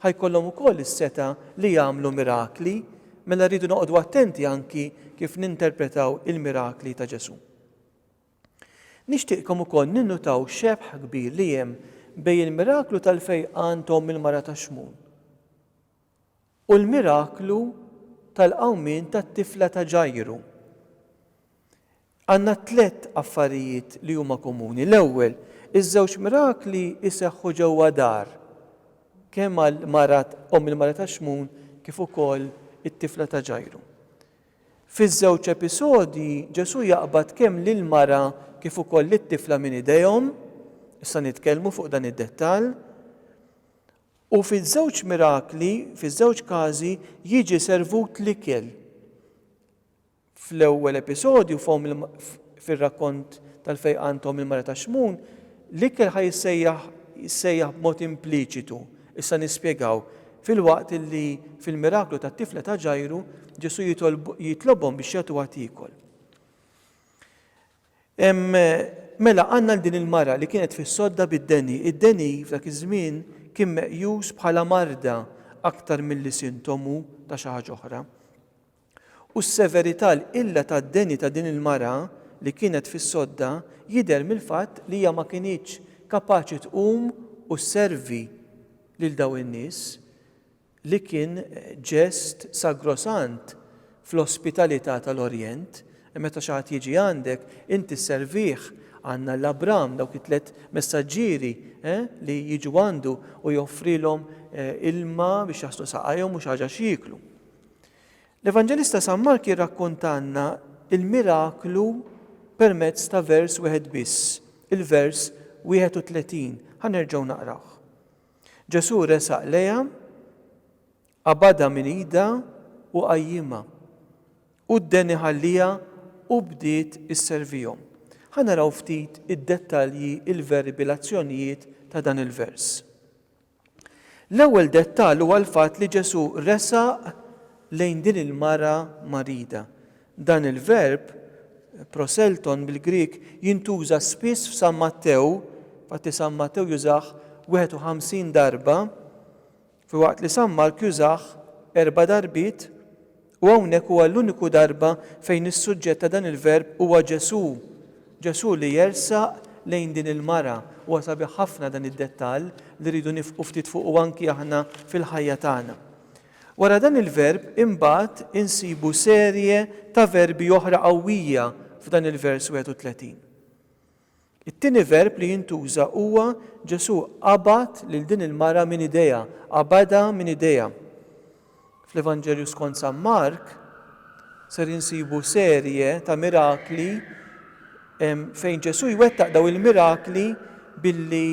ħa jkollhom ukoll is-setgħa li jagħmlu mirakli, mela rridu noqogħdu attenti anki kif ninterpretaw il-mirakli ta' Ġesù. Nixtieqkom ukoll ninnutaw xebħ kbir li hemm bejn il-miraklu tal-fejqan t'omm il-mara tax-xmun, u l-miraklu tal-qawmien tat-tifla ta' Ġajru, għandna tliet affarijiet li huma komuni. L-ewwel, iż-żewġ mirakli jseħħu ġewwa dar, kemm għal mara, omm il-mara ta' Xmun, kif ukoll it-tifla ta' Ġajru. Fiż-żewġ episodji, Ġesù jaqbad kemm lill-mara kif ukoll lit-tifla minn idejhom, issa nitkellmu fuq dan id-dettall, U fiż-żewġ mirakli, fiż-żewġ każi, jiġi servut l-ikel. Fl-ewwel episodju, f'Omm il-, fir-rakkont tal-fejqan t'Omm il-Mara ta' Xmun, l-ikel ħa jissejjaħ jissejjaħ b'mod impliċitu, issa nispjegaw, filwaqt li fil-miraklu tat-tifla ta' Ġajru, Ġesù jitolb, jitlobhom biex jagħtuha tiekol. Mela, għandna lil din il-mara li kienet fis-sodda bid-deni. Id-deni f'dak iż-żmien kien meqjus bħala marda aktar milli sintomu ta' xi ħaġa oħra. U s-severità l-qilla tad-deni ta' din il-mara li kienet fis-sodda jidher mill-fatt li hija ma kinitx kapaċi tqum u sservi lil dawn in-nies li kien ġest sagrosant fl-ospitalità tal-Orjent, meta xi ħadd jiġi għandek, inti sservih, għandna 'l Abram, dawk it-tliet messaġġieri li jiġu għandu u joffrilhom ilma biex jaħslu saqajhom u xi ħaġa x'jieklu. L-Evanġelista San Mark jirrakkontalna l-miraklu permezz ta' vers wieħed biss, il-vers 31. Ħa nerġgħu naqrawh. Ġesù resaq lejha, qabadha minn idha u qajjimha. Hu dden iħalliha u bdiet isservihom. Ħa naraw ftit id-dettalji, il-verbi, l-azzjonijiet ta' dan il-vers. L-ewwel dettall huwa l-fatt li Ġesù resaq lejn din il-mara marida. Dan il-verb, proselton bil-Grieg, jintuża spiss f'San Mattew, infatti San Mattew jużah 51 darba, filwaqt li San Mark jużah erba' darbiet, u hawnhekk huwa l-uniku darba fejn is-suġġett ta' dan il-verb huwa Ġesù, Ġesù li jersaq lejn din il-mara. Huwa sabiħ ħafna dan id-dettall li rridu nifqu ftit fuqu anki aħna fil-ħajja tagħna. Wara dan il-verb imbagħad insibu serje ta' verbi oħra qawwija f'dan il-vers 31. It-tieni verb li jintuża huwa Ġesù qabad lil din il-mara minn idejha, qabadha minn idejha. Fl-Evanġelju skont San Mark ser insibu serje ta' mirakli fejn Ġesù jwettaq daw il-mirakli billi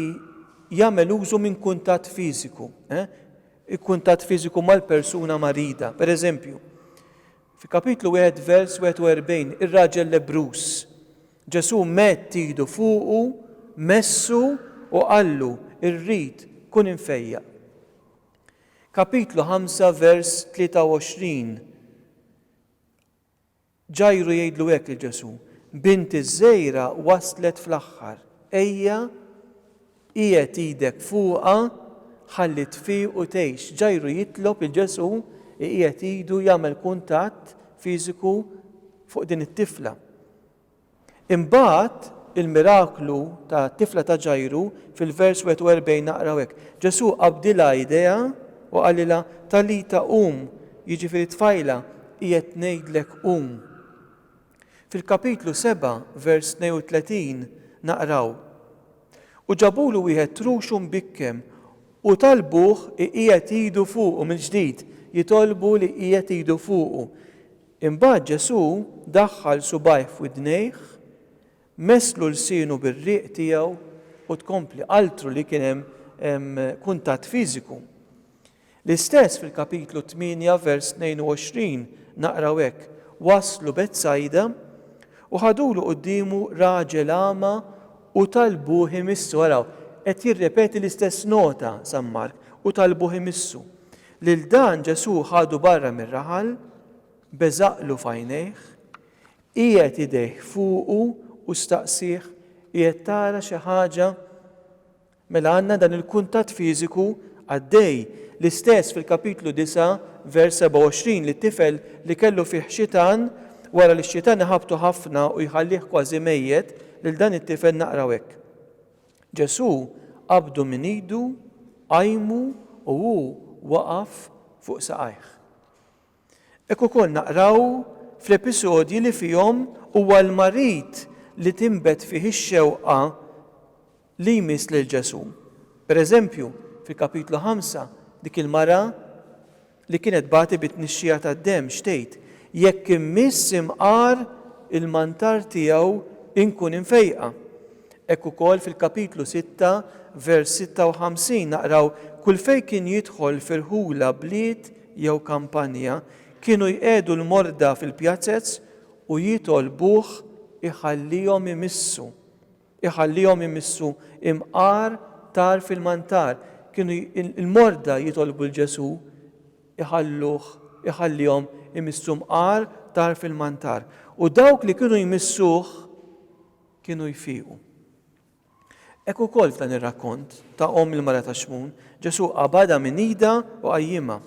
jagħmel użu minn kuntatt fiżiku. Eh? il-kuntatt fiżiku mal-persuna marida. Per eżempju, fi Kapitlu wieħed vers 41, ir-raġel lebbruż, Ġesù medd idu fuqu, messu u qallu, Irrid, kun imfejjaq. Kapitlu ħamsa vers 23, Ġajru jgħidlu hekk lil Ġesù, Binti ż-żgħira waslet fl-aħħar. Ejja, qiegħed idek fuqha ħalli tfiq u tgħix. Ġajru jitlob lil Ġesù iqiegħed idu jagħmel kuntatt fiżiku fuq din it-tifla. Imbagħad, il-miraklu tat-tifla ta' Ġajru, fil-vers 41 naqraw hekk, Ġesù qabdilha idejha u qalilha, Talita qum, jiġifieri tfajla, qiegħed ngħidlek qum. Fil-kapitlu 7, vers 32 naqraw, U ġabulu wieħed truxu mbikkem u talbuh iqiegħed idu fuqu mill-ġdid, jitolbu li jqiegħed idu fuqu. Imbagħad Ġesù daħħal subgħajh f'widnejh, messlu lsienu bir-riq tiegħu u tkompli qaltlu li kien hemm kuntatt fiżiku. L-istess fil-Kapitlu 8 vers 22 naqraw hekk, Waslu Betsajda u ħadulu quddiemu raġel agħma u talbuh imissu. Araw, qed jirrepeti l-istess nota San Mark, u talbuh imissu. Lil dan Ġesù ħadu barra mir-raħal, beżaqlu f'għajnejh, qiegħed idejh fuqu u staqsieh, Qiegħed tara xi ħaġa? Mela għandna dan il-kuntatt fiżiku għaddej, l-istess fil-Kapitlu 9, vers 27, li t-tifel li kellu fih xitan, wara li x-xitan iħabbtu ħafna u jħallih kważi mejjet, lil dan it-tifel naqraw hekk, Ġesù qabdu minn idu, qajmu u hu waqaf fuq saqajh. Hekk ukoll naqraw fl-episodji li fihom huwa l-marid li tinbet fih ix-xewqa li jmiss lil Ġesù. Pereżempju, fil-Kapitlu Ħamsa, dik il-mara li kienet tbati bi tnixxija tad-demm, x'tgħid, Jekk immiss imqar il-mantar tiegħu inkun imfejqa. Hekk ukoll fil-kapitlu sitta, vers 56 naqraw, Kull fejn kien jidħol f'irħula bliet jew kampanja, kienu jqiegħdu l-morda fil-pjazez u jitolbuh iħallihom imissu. Iħallihom imissu imqar tar fil-mantar. Kienu l-morda jitolbu 'l Ġesù iħalluh iħallihom imissu mqar tar fil-mantar. U dawk li kienu jmissuh kienu jfiqu. Hekk ukoll f'dan ir-rakkont ta' omm il-mara ta' Xmun, Ġesù qabadha minn idha u qajjimha.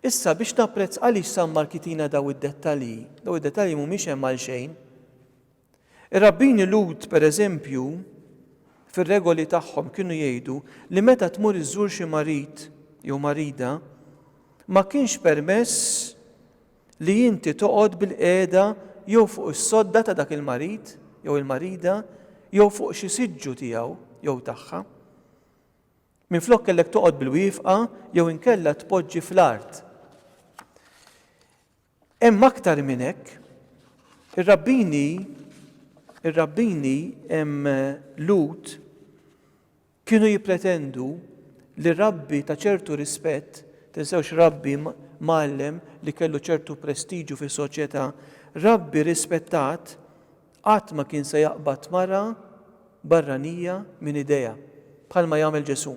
Issa biex napprezz għaliex San Mark jitina daw id-dettalji, daw id-dettalji mhumiex hemm għalxejn. Ir-rabbini Lhud, pereżempju, fir-regoli tagħhom kienu jgħidu li meta tmur iżżur xi marid jew marida, ma kienx permess li inti toqgħod bilqiegħda jew fuq is-sodda ta' dak il-marid jew il-marida jew fuq xi siġġu tiegħu jew tagħha. Minflok kellek toqgħod bilwieqfa jew inkella tpoġġi fl-art. Hemm aktar minn hekk. Ir-rabbini, ir-rabbini Lhud kienu jippretendu li rabbi ta' ċertu rispett, tinsewx rabbi mgħallem li kellu ċertu prestiġju fis-soċjetà, rabbi rispettat qatt ma kien se jaqbad mara barranija minn idejha, bħalma jagħmel Ġesù.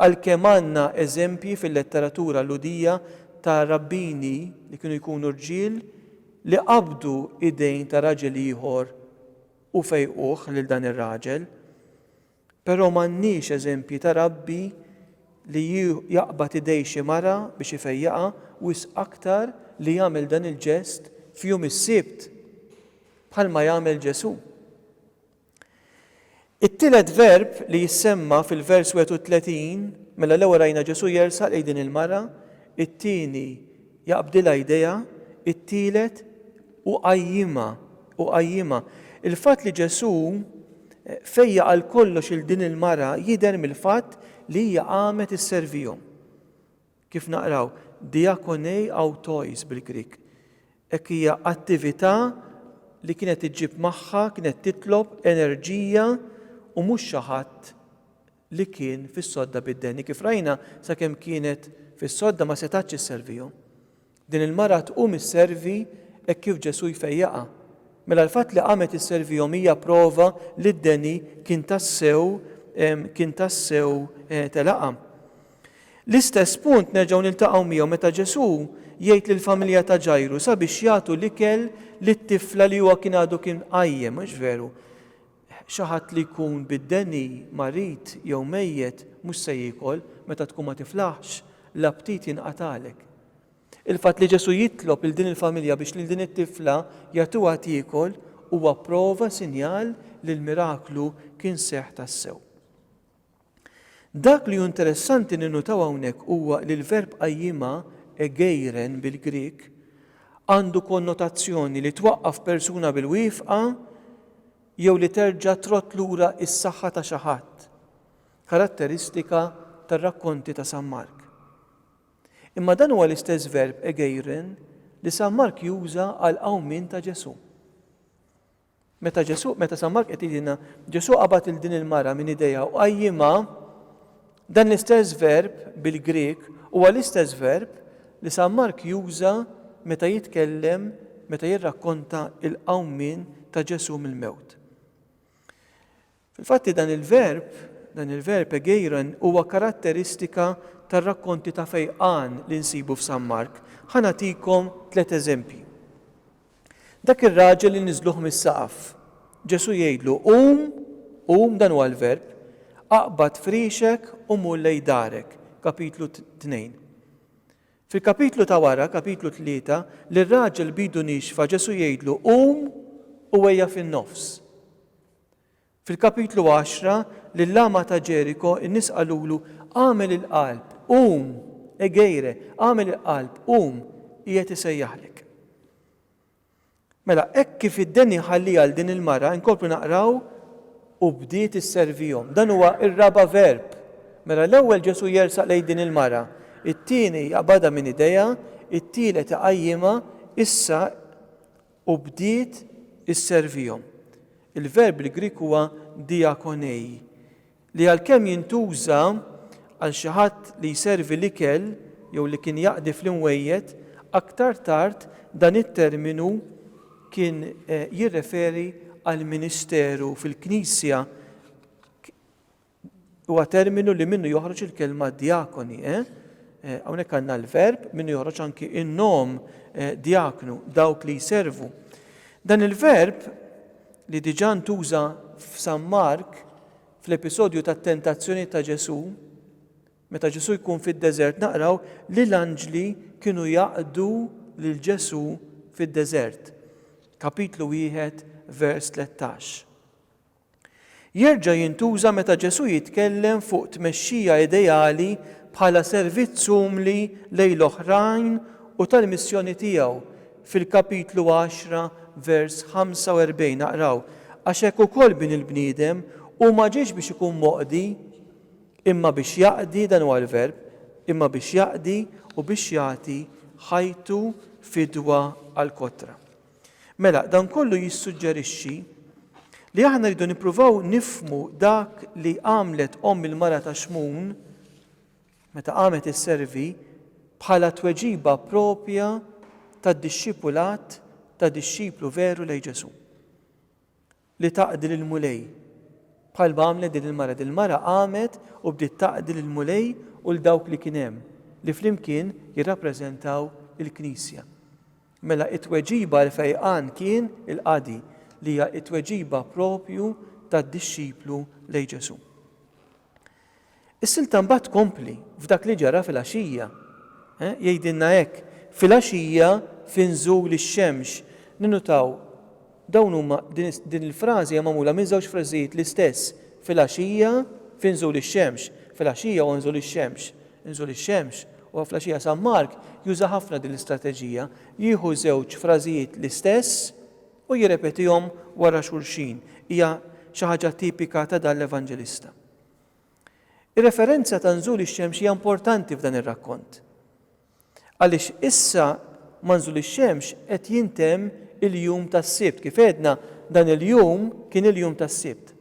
Għalkemm għandna eżempji fil-letteratura Lhudija ta' rabbini li kienu jkunu rġiel li qabdu idejn ta' raġel ieħor u fejquh lil dan ir-raġel, però m'għandniex eżempji ta' rabbi li jaqbad idej xi mara biex ifejjaqha, wisq aktar li jagħmel dan il-ġest f'jum is-Sibt, bħalma jagħmel Ġesù. It-tielet verb li jissemma fil-vers 31, mela l-ewwel rajna Ġesù jersaq lejn din il-mara, it-tieni jaqbdilha jdejha, it-tielet uqajjimha, uqajjimha. Il-fatt li Ġesù fejjaq għal kollox 'il din il-mara jidher mill-fatt li hija qamet isservihom. Kif naqraw, diakonei autois bil-Grieg. Hekk hija attività li kienet iġġib magħha, kienet titlob enerġija u mhux xi ħadd li kien fis-sodda bid-deni. Kif rajna, sakemm kienet fis-sodda ma setgħetx isservihom. Din il-mara tqum isservi hekk kif Ġesù jfejjaqha. Mela l-fatt li qamet isservihom hija prova li d-deni kien tassew kien tassew telaqha. L-istess punt nerġgħu niltaqgħu miegħu meta Ġesù jgħid lill-familja ta' Ġajru sabiex jagħtu l-ikel lit-tifla li huwa kien għadu kien qajjem, mhux veru? Xi ħadd li jkun bid-deni, marid jew mejjet mhux se jiekol, meta tkun ma tiflaħx, l-aptit jinqatagħlek. Il-fatt li Ġesù jitlob lil din il-familja biex lil din it-tifla jagħtuha tiekol huwa prova, sinjal, li l-miraklu kien seħħ tassew. Dak li hu interessanti ninnutaw hawnhekk huwa li l-verb qajjimha, egeiren bil-Grieg, għandu konnotazzjoni li twaqqaf persuna bil-wieqfa jew li terġa' trodd lura s-saħħa ta' xi ħadd, karatteristika tar-rakkonti ta' San Mark. Imma dan huwa l-istess verb egeiren li San Mark juża għall-qawmien ta' Ġesù. Meta Ġesù, meta San Mark qed jgħidilna, Ġesù qabad lil din il-mara minn idejha u qajjimha, dan l-istess verb bil-Grieg huwa l-istess verb li San Mark juża meta jitkellem, meta jirrakkonta l-qawmien ta' Ġesù mill-mewt. Fil-fatti dan il-verb, dan il-verb egeiron, huwa karatteristika tar-rakkonti ta' fejqan li nsibu f'San Mark. Ħa nagħtikom tliet eżempji. Dak ir-raġel li niżżluh mis-saqaf. Ġesù jgħidlu, Qum, qum, dan huwa l-verb, aqbad friexek u mur lejn darek, Kapitlu tnejn. Fil-kapitlu ta' wara, Kapitlu tlieta, lir-raġel b'idu niexfa Ġesù jgħidlu, Qum u ejja fin-nofs. Fil-kapitlu għaxra, lill-agħma ta' Ġeriko, in-nies qalulu, Agħmel il-qalb, qum! Egeire, agħmel il-qalb, qum, qiegħed isejjaħlek. Mela, hekk kif id-deni jħalli għal din il-mara, inkomplu naqraw, u bdiet isservihom. Dan huwa r-raba' verb. Mela l-ewwel Ġesù jersaq lejn din il-mara, it-tieni jaqbadha minn idejha, it-tielet iqajjimha, issa u bdiet isservihom. Il-verb il-Grieg huwa diakonei, li għalkemm jintuża għal xi ħadd li jservi l-ikel jew li kien jaqdi fl-inwejjed, aktar tard dan it-terminu kien jirreferi għall-ministeru fil-Knisja. huwa terminu li minnu joħroġ il-kelma djakoni. Eh? Eh, hawnhekk għandna l-verb minnu joħroġ anki in-nom eh, djaknu, dawk li jservu. Dan il-verb li diġà ntuża f'San Mark fl-episodju tat-tentazzjoni ta' Ġesù, meta Ġesù jkun fid-deżert naqraw li l-anġli kienu jaqdu lil Ġesù fid-deżert. Kapitlu wieħed vers 13. Jerġa' jintuża meta Ġesù jitkellem fuq tmexxija ideali bħala servizz umli lejn l-oħrajn u tal-missjoni tiegħu, fil-kapitlu għaxra, vers 45 naqraw, Għax hekk ukoll Bin il-bniedem hu ma ġiex biex ikun moqdi, imma biex jaqdi, dan huwa l-verb, imma biex jaqdi u biex jagħti ħajtu fidwa għall-kotra. Mela, dan kollu jissuġġerixxi li aħna rridu nippruvaw nifhmu dak li għamlet omm il-mara ta' Xmun meta qamet isservi bħala tweġiba proprja tad-dixxipulat ta' dixxiplu veru lejn Ġesù. li taqdi lill-Mulej, bħal ma għamlet din il-mara. Din il-mara qamet u bdiet taqdi lill-Mulej u 'l dawk li kien hemm, li flimkien jirrappreżentaw il-Knisja. Mela t-tweġiba għall-fejqan kien il-qadi, li hija t-tweġiba proprju tad-dixxiplu lejn Ġesù. Is-silta mbagħad tkompli f'dak li ġara filgħaxija. Jgħidilna hekk, Filgħaxija fi nżul ix-xemx. Ninnutaw, dawn huma, din il-frażi hija magħmula minn żewġ frażijiet l-istess, filgħaxija fi nżul ix-xemx, filgħaxija huwa nżul ix-xemx, nżul ix-xemx, huwa fl-għaxija San Mark juża ħafna din l-istrateġija, jieħu żewġ frażijiet l-istess u jirrepetihom wara xulxin. Hija xi ħaġa tipika ta' dan l-Evanġelista. Ir-referenza ta' nżul ix-xemx hija importanti f'dan ir-rakkont, għaliex issa ma' nżul ix-xemx qed jintemm il-jum tas-Sibt. Kif għedna, dan il-jum kien il-jum tas-Sibt.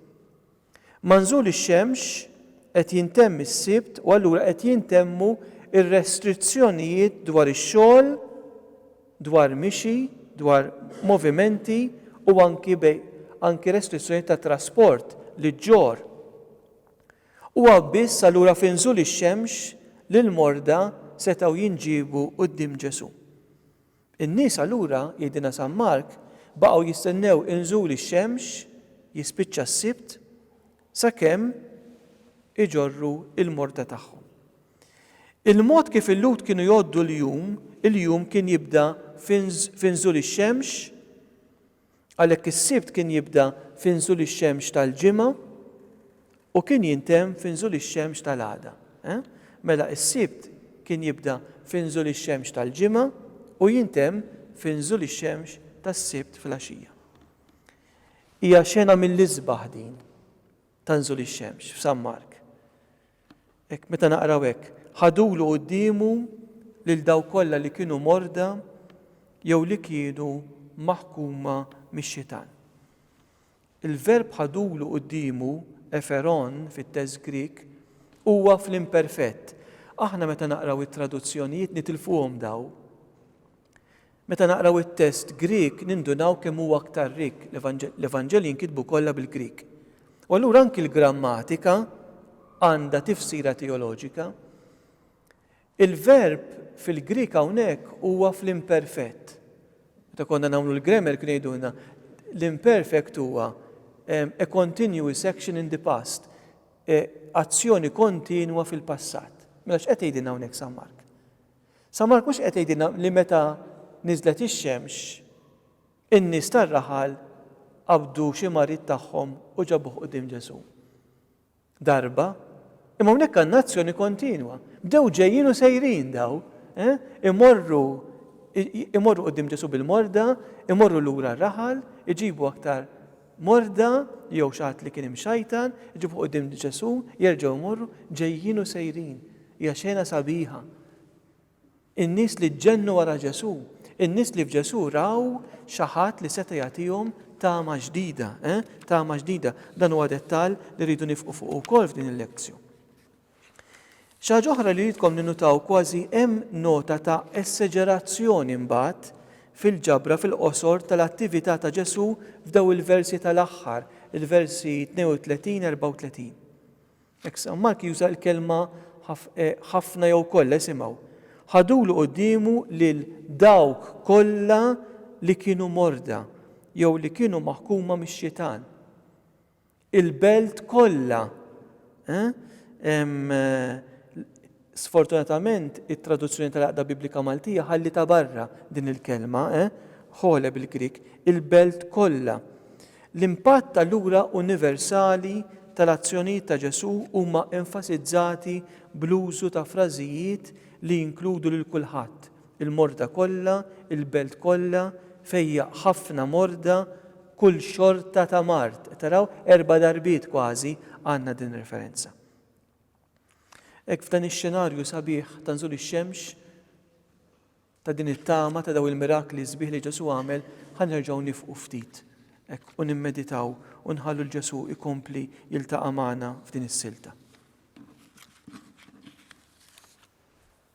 Ma' nżul ix-xemx qed jintemm is-Sibt u allura qed jintemmu r-restrizzjonijiet dwar ix-xogħol, dwar mixi, dwar movimenti u anki bejn anki restrizzjonijiet ta' trasport li ġġorr. Huwa biss allura fi nżul ix-xemx li l-morda setgħu jinġiebu quddiem Ġesù. In-nies allura, jgħidilna San Mark, baqgħu jistennew inżul ix-xemx, jispiċċa s-Sibt, Sakemm iġorru l-morda tagħhom. Il-mod kif il-Lhud kienu jgħoddu l-jum, il-jum kien jibda fi nżul ix-xemx, għalhekk is-Sibt kien jibda fi nżul ix-xemx tal-Ġimgħa u kien jintemm fi nżul ix-xemx tal-għada. Mela is-Sibt kien jibda fi nżul ix-xemx tal-Ġimgħa u jintemm fi nżul ix-xemx tas-Sibt filgħaxija. Hija xena mill-isbaħ din ta' nżul ix-xemx f'San Mark. Hekk meta naqraw hekk, Ħadulu quddiemu lil dawk kollha li kienu morda jew li kienu maħkuma mix-xitan. Il-verb ħadulu quddiemu, e'pheron fit-test Grieg, huwa fl-imperfett. Aħna meta naqraw it-traduzzjonijiet nitilfuhom dawn. Meta naqraw it-test Grieg nindunaw kemm huwa aktar rikk, l-Evanġelji nkitbu kollha bil-Grieg. U allura anki l-grammatika għandha tifsira teoloġika. Il-verb fil-Grieg hawnhekk huwa fl-imperfett. Meta konna nagħmlu l-grammar kienu jgħidulna l-imperfect huwa a continuous action in the past, e, azzjoni kontinwa fil-passat. Mela x'qed tgħidilna hawnhekk San Mark? San Mark mhux qed jgħidilna li meta niżlet ix-xemx, in-nies tar-raħal qabdu xi marid tagħhom u ġabuh quddiem Ġesù. Darba, imma hawnhekk għandna azzjoni kontinwa. Bdew ġejjin u sejrin daw, eh? imorru imorru quddiem Ġesù bil-morda, imorru lura r-raħal, iġibu aktar morda jew xi ħadd li kien imxajtan, iġibuh quddiem Ġesù, jerġgħu jmorru, ġejjin u sejrin. Hija xena sabiħa. In-nies li ġġennu wara Ġesù, in-nies li f'Ġesù raw xi ħadd li seta' jagħtihom tama ġdida, eh? tama ġdida. Dan huwa dettall li rridu nifqu fuq ukoll f'din il-lezzju. Xi ħaġa oħra li ridkom ninnutaw, kważi hemm nota ta' eseġerazzjoni mbagħad fil-ġabra fil-qosor tal-attività ta' Ġesù f'dawn il-versi tal-aħħar, il-versi 32, 34. Hekk San Mark juża l-kelma ħafna jew kollha, isimgħu. Ħadulu quddiemu lil dawk kollha li kienu morda jew li kienu maħkuma mix-xitan. il-belt kollha. Sfortunatament, it-Traduzzjoni tal-Għaqda Biblika Maltija ħallitha barra din il-kelma, ħole bil-Grieg, il-belt kollha. L-impatt allura universali tal-azzjonijiet ta' Ġesù huma enfasizzati bl-użu ta' frażijiet li jinkludu lil kulħadd, Il-morda kollha, il-belt kollha, fejja ħafna morda, kull xorta ta' mard. Qed taraw? Erba' darbiet kważi għandna din ir-referenza. Hekk f'dan ix-xenarju sabiħ ta' nżul ix-xemx, ta' din it-tama ta' daw il-mirakli sbieħ li Ġesu għamel, ħa nerġgħu nifqu ftit hekk u nimmeditaw u nħallu l Ġesu ikompli jiltaqa' magħna f'din is-silta.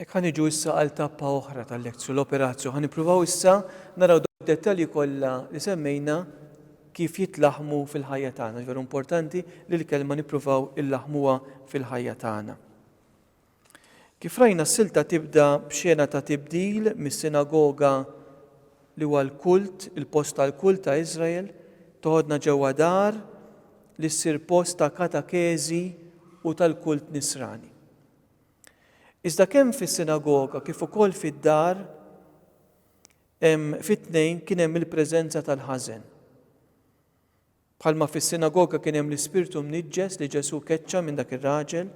Ek ħan iġu issa għal tappa oħra tal-lezzju l-operazju. Ħan ipruvaw issa naraw dettalji kollha li semmejna kif jitlaħmu fil-ħajja tagħna. Veru importanti li l-kelma nippruvaw illaħmuha fil-ħajja tagħna. Kif rajna s-silta tibda b'xena ta' tibdil mis-sinagoga li huwa l-kult, il-post tal-kult ta' Iżrael, toħodna ġewwa dar li ssir post ta' katakeżi u tal-kult Nisrani. Iżda kemm fis-sinagoga kif ukoll fid-dar hemm fit-tnejn kien hemm il-preżenza tal-ħażen. Bħalma fis-sinagoga kien hemm l-ispirtu mniġġes li Ġesù keċċa minn dak ir-raġel,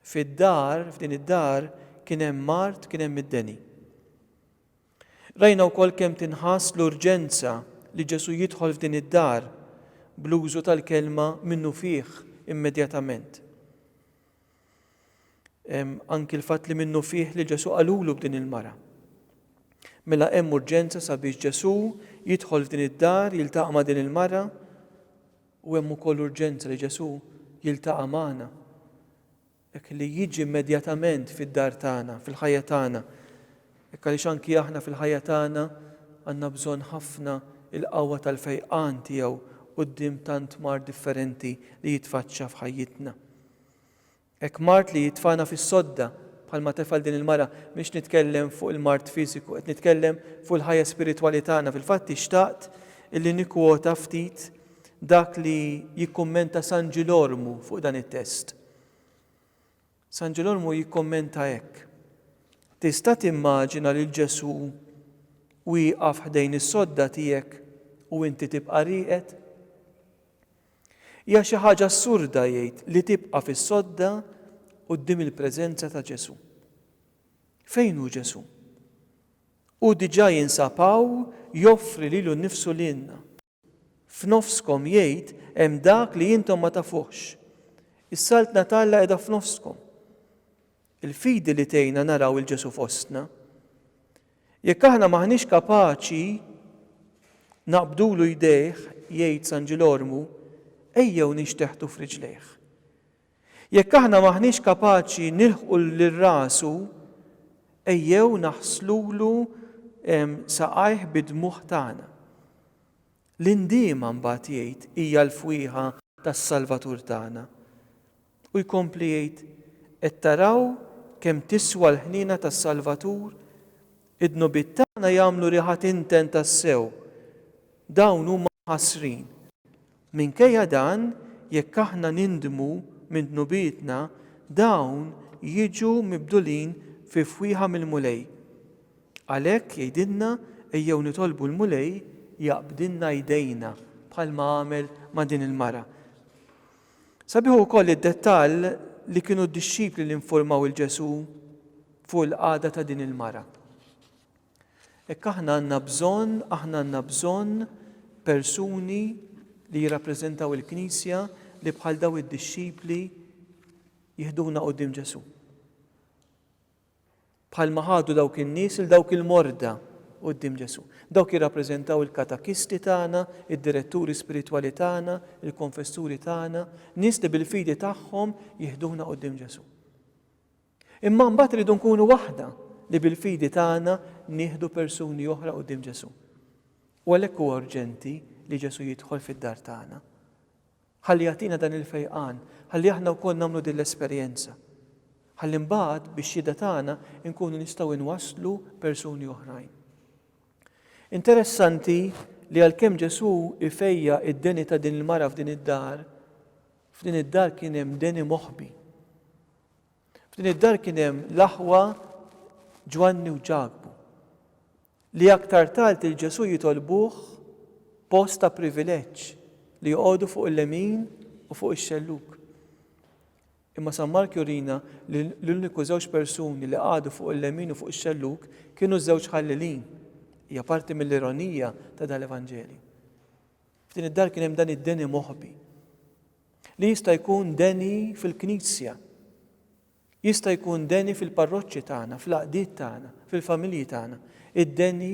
fid-dar, f'din id-dar, kien hemm mard, kien hemm id-deni. Rajna wkoll kemm tinħass l-urġenza li Ġesù jidħol f'din id-dar bl-użu tal-kelma minnufih immedjatament. Hemm anki l-fatt li minnu fih li Ġesù qalulu b'din il-mara. Mela hemm urġenza sabiex Ġesù jidħol f'din id-dar, jiltaqa' ma' din il-mara, u hemm ukoll urġenza li Ġesù jiltaqa' magħna. Hekk li jiġi immedjatament fid-dar tagħna, fil-ħajja tagħna. Hekk għaliex anki aħna fil-ħajja tagħna għandna bżonn ħafna il-qawwa tal-fejqan tiegħu quddiem tant mar differenti li jitfaċċa f'ħajjitna. Hekk mard li jitfagħna fis-sodda, bħalma tefgħal din il-mara. M'iniex nitkellem fuq il-mard fiżiku, qed nitkellem fuq il-ħajja spiritwali tagħna. Fil-fatt hi xtaqt li nikkwota ftit dak li jikkummenta San Ġilormu fuq dan it-test. San Ġilormu jikkommenta hekk, Tista' timmaġina lil Ġesù wieqaf ħdejn is-sodda tiegħek u inti tibqa' rieqed? Hija xi ħaġa assurda, jgħid, li tibqa' fis-sodda quddiem il-preżenza ta' Ġesù. Fejn hu Ġesù? Hu diġà jinsab hawn joffri lilu nnifsu lilna. F'nofskom, jgħid, hemm dak li intom ma tafuhx. Is-Saltna t'Alla qiegħda f'nofskom. Il-fidi li tgħinna naraw 'il Ġesù fostna. Jekk aħna m'aħniex kapaċi naqbdulu jdejh, jgħid San Ġilormu, ejjew ninxteħtu f'riġlejh. Jekk aħna m'aħniex kapaċi nilħqu lil rasu, ejjew naħslulu saqajh bid-dmugħ tagħna. L-indiema mbagħad jgħid hija l-fwieħa tas-Salvatur tagħna. U jkompli jgħid, Qed taraw kemm tiswa l-ħniena tas-Salvatur? Id-dnubiet tagħna jagħmlu riħa tinten tassew. Dawn huma mħassrin. Minkejja dan, jekk aħna nindmu minn dnubietna, dawn jiġu mibdulin fi fwieħa mill-Mulej. Għalhekk, jgħidilna, ejjew nitolbu l-Mulej jaqbdilna jdejna, bħalma għamel ma' din il-mara. Sabiħ ukoll id-dettall li kienu d-dixxipli li nfurmaw lil Ġesù fuq il-qagħda ta' din il-mara. Hekk aħna għandna bżonn, aħna għandna bżonn persuni li jirrappreżentaw il-Knisja li bħal daw id-dixxipli jihduna quddiem Ġesù. Bħalma ħadu dawk in-nies il dawk il-morda quddiem Ġesù. Dawk jirrappreżentaw il-katakisti tagħna, id-diretturi spiritwali tagħna, il-konfessuri tagħna, nies li bil-fidi tagħhom jiħduna quddiem Ġesù. Imma mbagħad iridu nkunu waħda li bil-fidi tagħna nieħdu persuni oħra quddiem Ġesù. U għalhekk huwa urġenti li Ġesù jidħol fid-dar tagħna. Ħalli jagħtina dan il-fejqan, ħalli aħna wkoll nagħmlu din l-esperjenza. Ħalli mbagħad bix-xhieda tagħna nkunu nistgħu nwasslu persuni oħrajn. Interessanti li għalkemm Ġesù ifejja' id-deni ta' din il-mara f'din id-dar, f'din id-dar kien hemm deni moħbi. F'din id-dar kien hemm l-aħwa Ġwanni u Ġakbu. li aktar tard lil Ġesù jitolbuh post ta' privileġġ li joqogħdu fuq il-lemin u fuq ix-xellug. Imma San Mark jurina li l-uniku żewġ persuni li qagħdu fuq il-lemin u fuq ix-xellug kienu ż-żewġ ħallilin. Hija parti mill-ironija ta' dal-Evanġelju. F'din id-dar kien hemm dan id-deni moħbi li jista' jkun deni fil-Knisja Jista' jkun deni fil-parroċċi tagħna, fl-għaqdiet tagħna, fil-familji tagħna, id-deni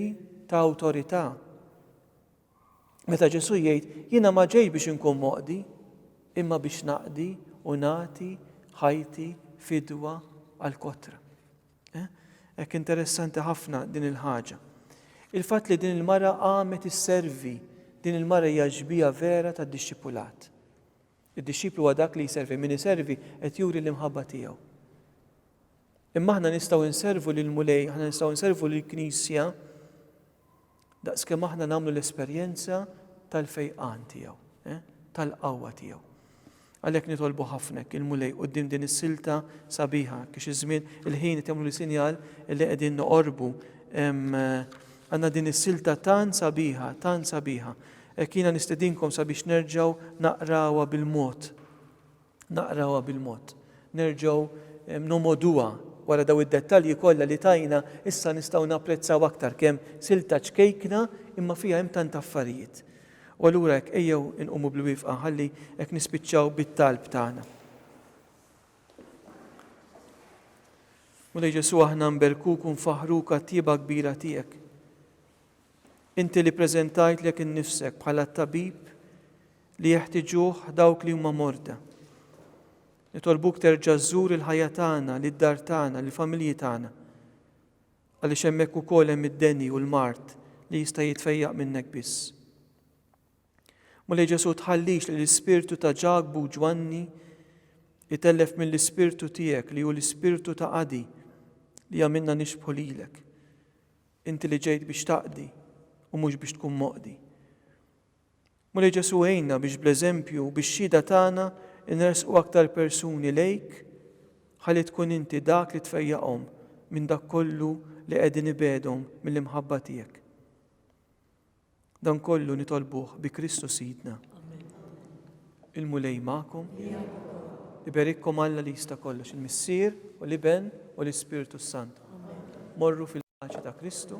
ta' awtorità. Meta Ġesù jgħid, Jiena ma ġejtx biex inkun moqdi, imma biex naqdi u nagħti ħajti fidwa għall-kotra. Eh? Hekk interessanti ħafna din il-ħaġa. Il-fatt li din il-mara qamet isservi, din il-mara hija ġbija vera tad-dixxipulat. Id-dixxiplu huwa dak li jservi. Min iservi qed juri l-imħabba tiegħu. Imma aħna nistgħu nservu lill-Mulej, aħna nistgħu nservu lill-Knisja daqskemm aħna nagħmlu l-esperjenza tal-fejqan tiegħu, eh, tal-qawwa tiegħu. Għalhekk nitolbu ħafnek il-Mulej quddiem din is-silta sabiħa kiex iż-żmien il-ħin temlu li sinjal li qegħdin noqorbu għandna din is-silta tan sabiħa, tan sabiħa. Hekk jiena nistedinkom sabiex nerġgħu naqrawha bil-mod. Naqrawha bil-mod. Nerġgħu nomgħoduha. Wara dawn id-dettalji kollha li tajna, issa nistgħu napprezzaw aktar kemm silta ċkejkna imma fiha hemm tant affarijiet. U allura hekk ejjew inqumu bil-wifqa ħalli hekk nispiċċaw bit-talb tagħna. Mulej Ġesù aħna nberkuk u nfaħħruk għat-tjieba kbira tiegħek. Inti li ppreżentajtlek innifsek bħala t-tabib li jeħtiġuh dawk li huma morda. Nitolbuk terġa' żżur il-ħajja tagħna, lid-dar tagħna, lill-familji tagħna. Għaliex hemmhekk ukoll hemm id-deni u l-mard li jista' jitfejjaq minnek biss. Mulej Ġesu tħallix li l-ispirtu ta' Ġakbu Ġwanni itellef mill-ispirtu tiegħek li hu l-ispirtu ta' qadi li għamilna nixbħu lilek. Inti li ġejt biex taqdi u mhux biex tkun moqdi. Mulej Ġesù għinna biex bl-eżempju u bix-xhieda tagħna nressqu aktar persuni lejk ħalli tkun inti dak li tfejjaqhom minn dak kollu li qegħdin ibegħdhom mill-imħabba tiegħek. Dan kollu nitolbuh bi Kristu Sidna. Il-Mulej magħkom. Iberikkom Alla li jista' kollox, il-Missier u l-Iben u l-Ispirtu s-Sant. Morru fil-paċi ta' Kristu.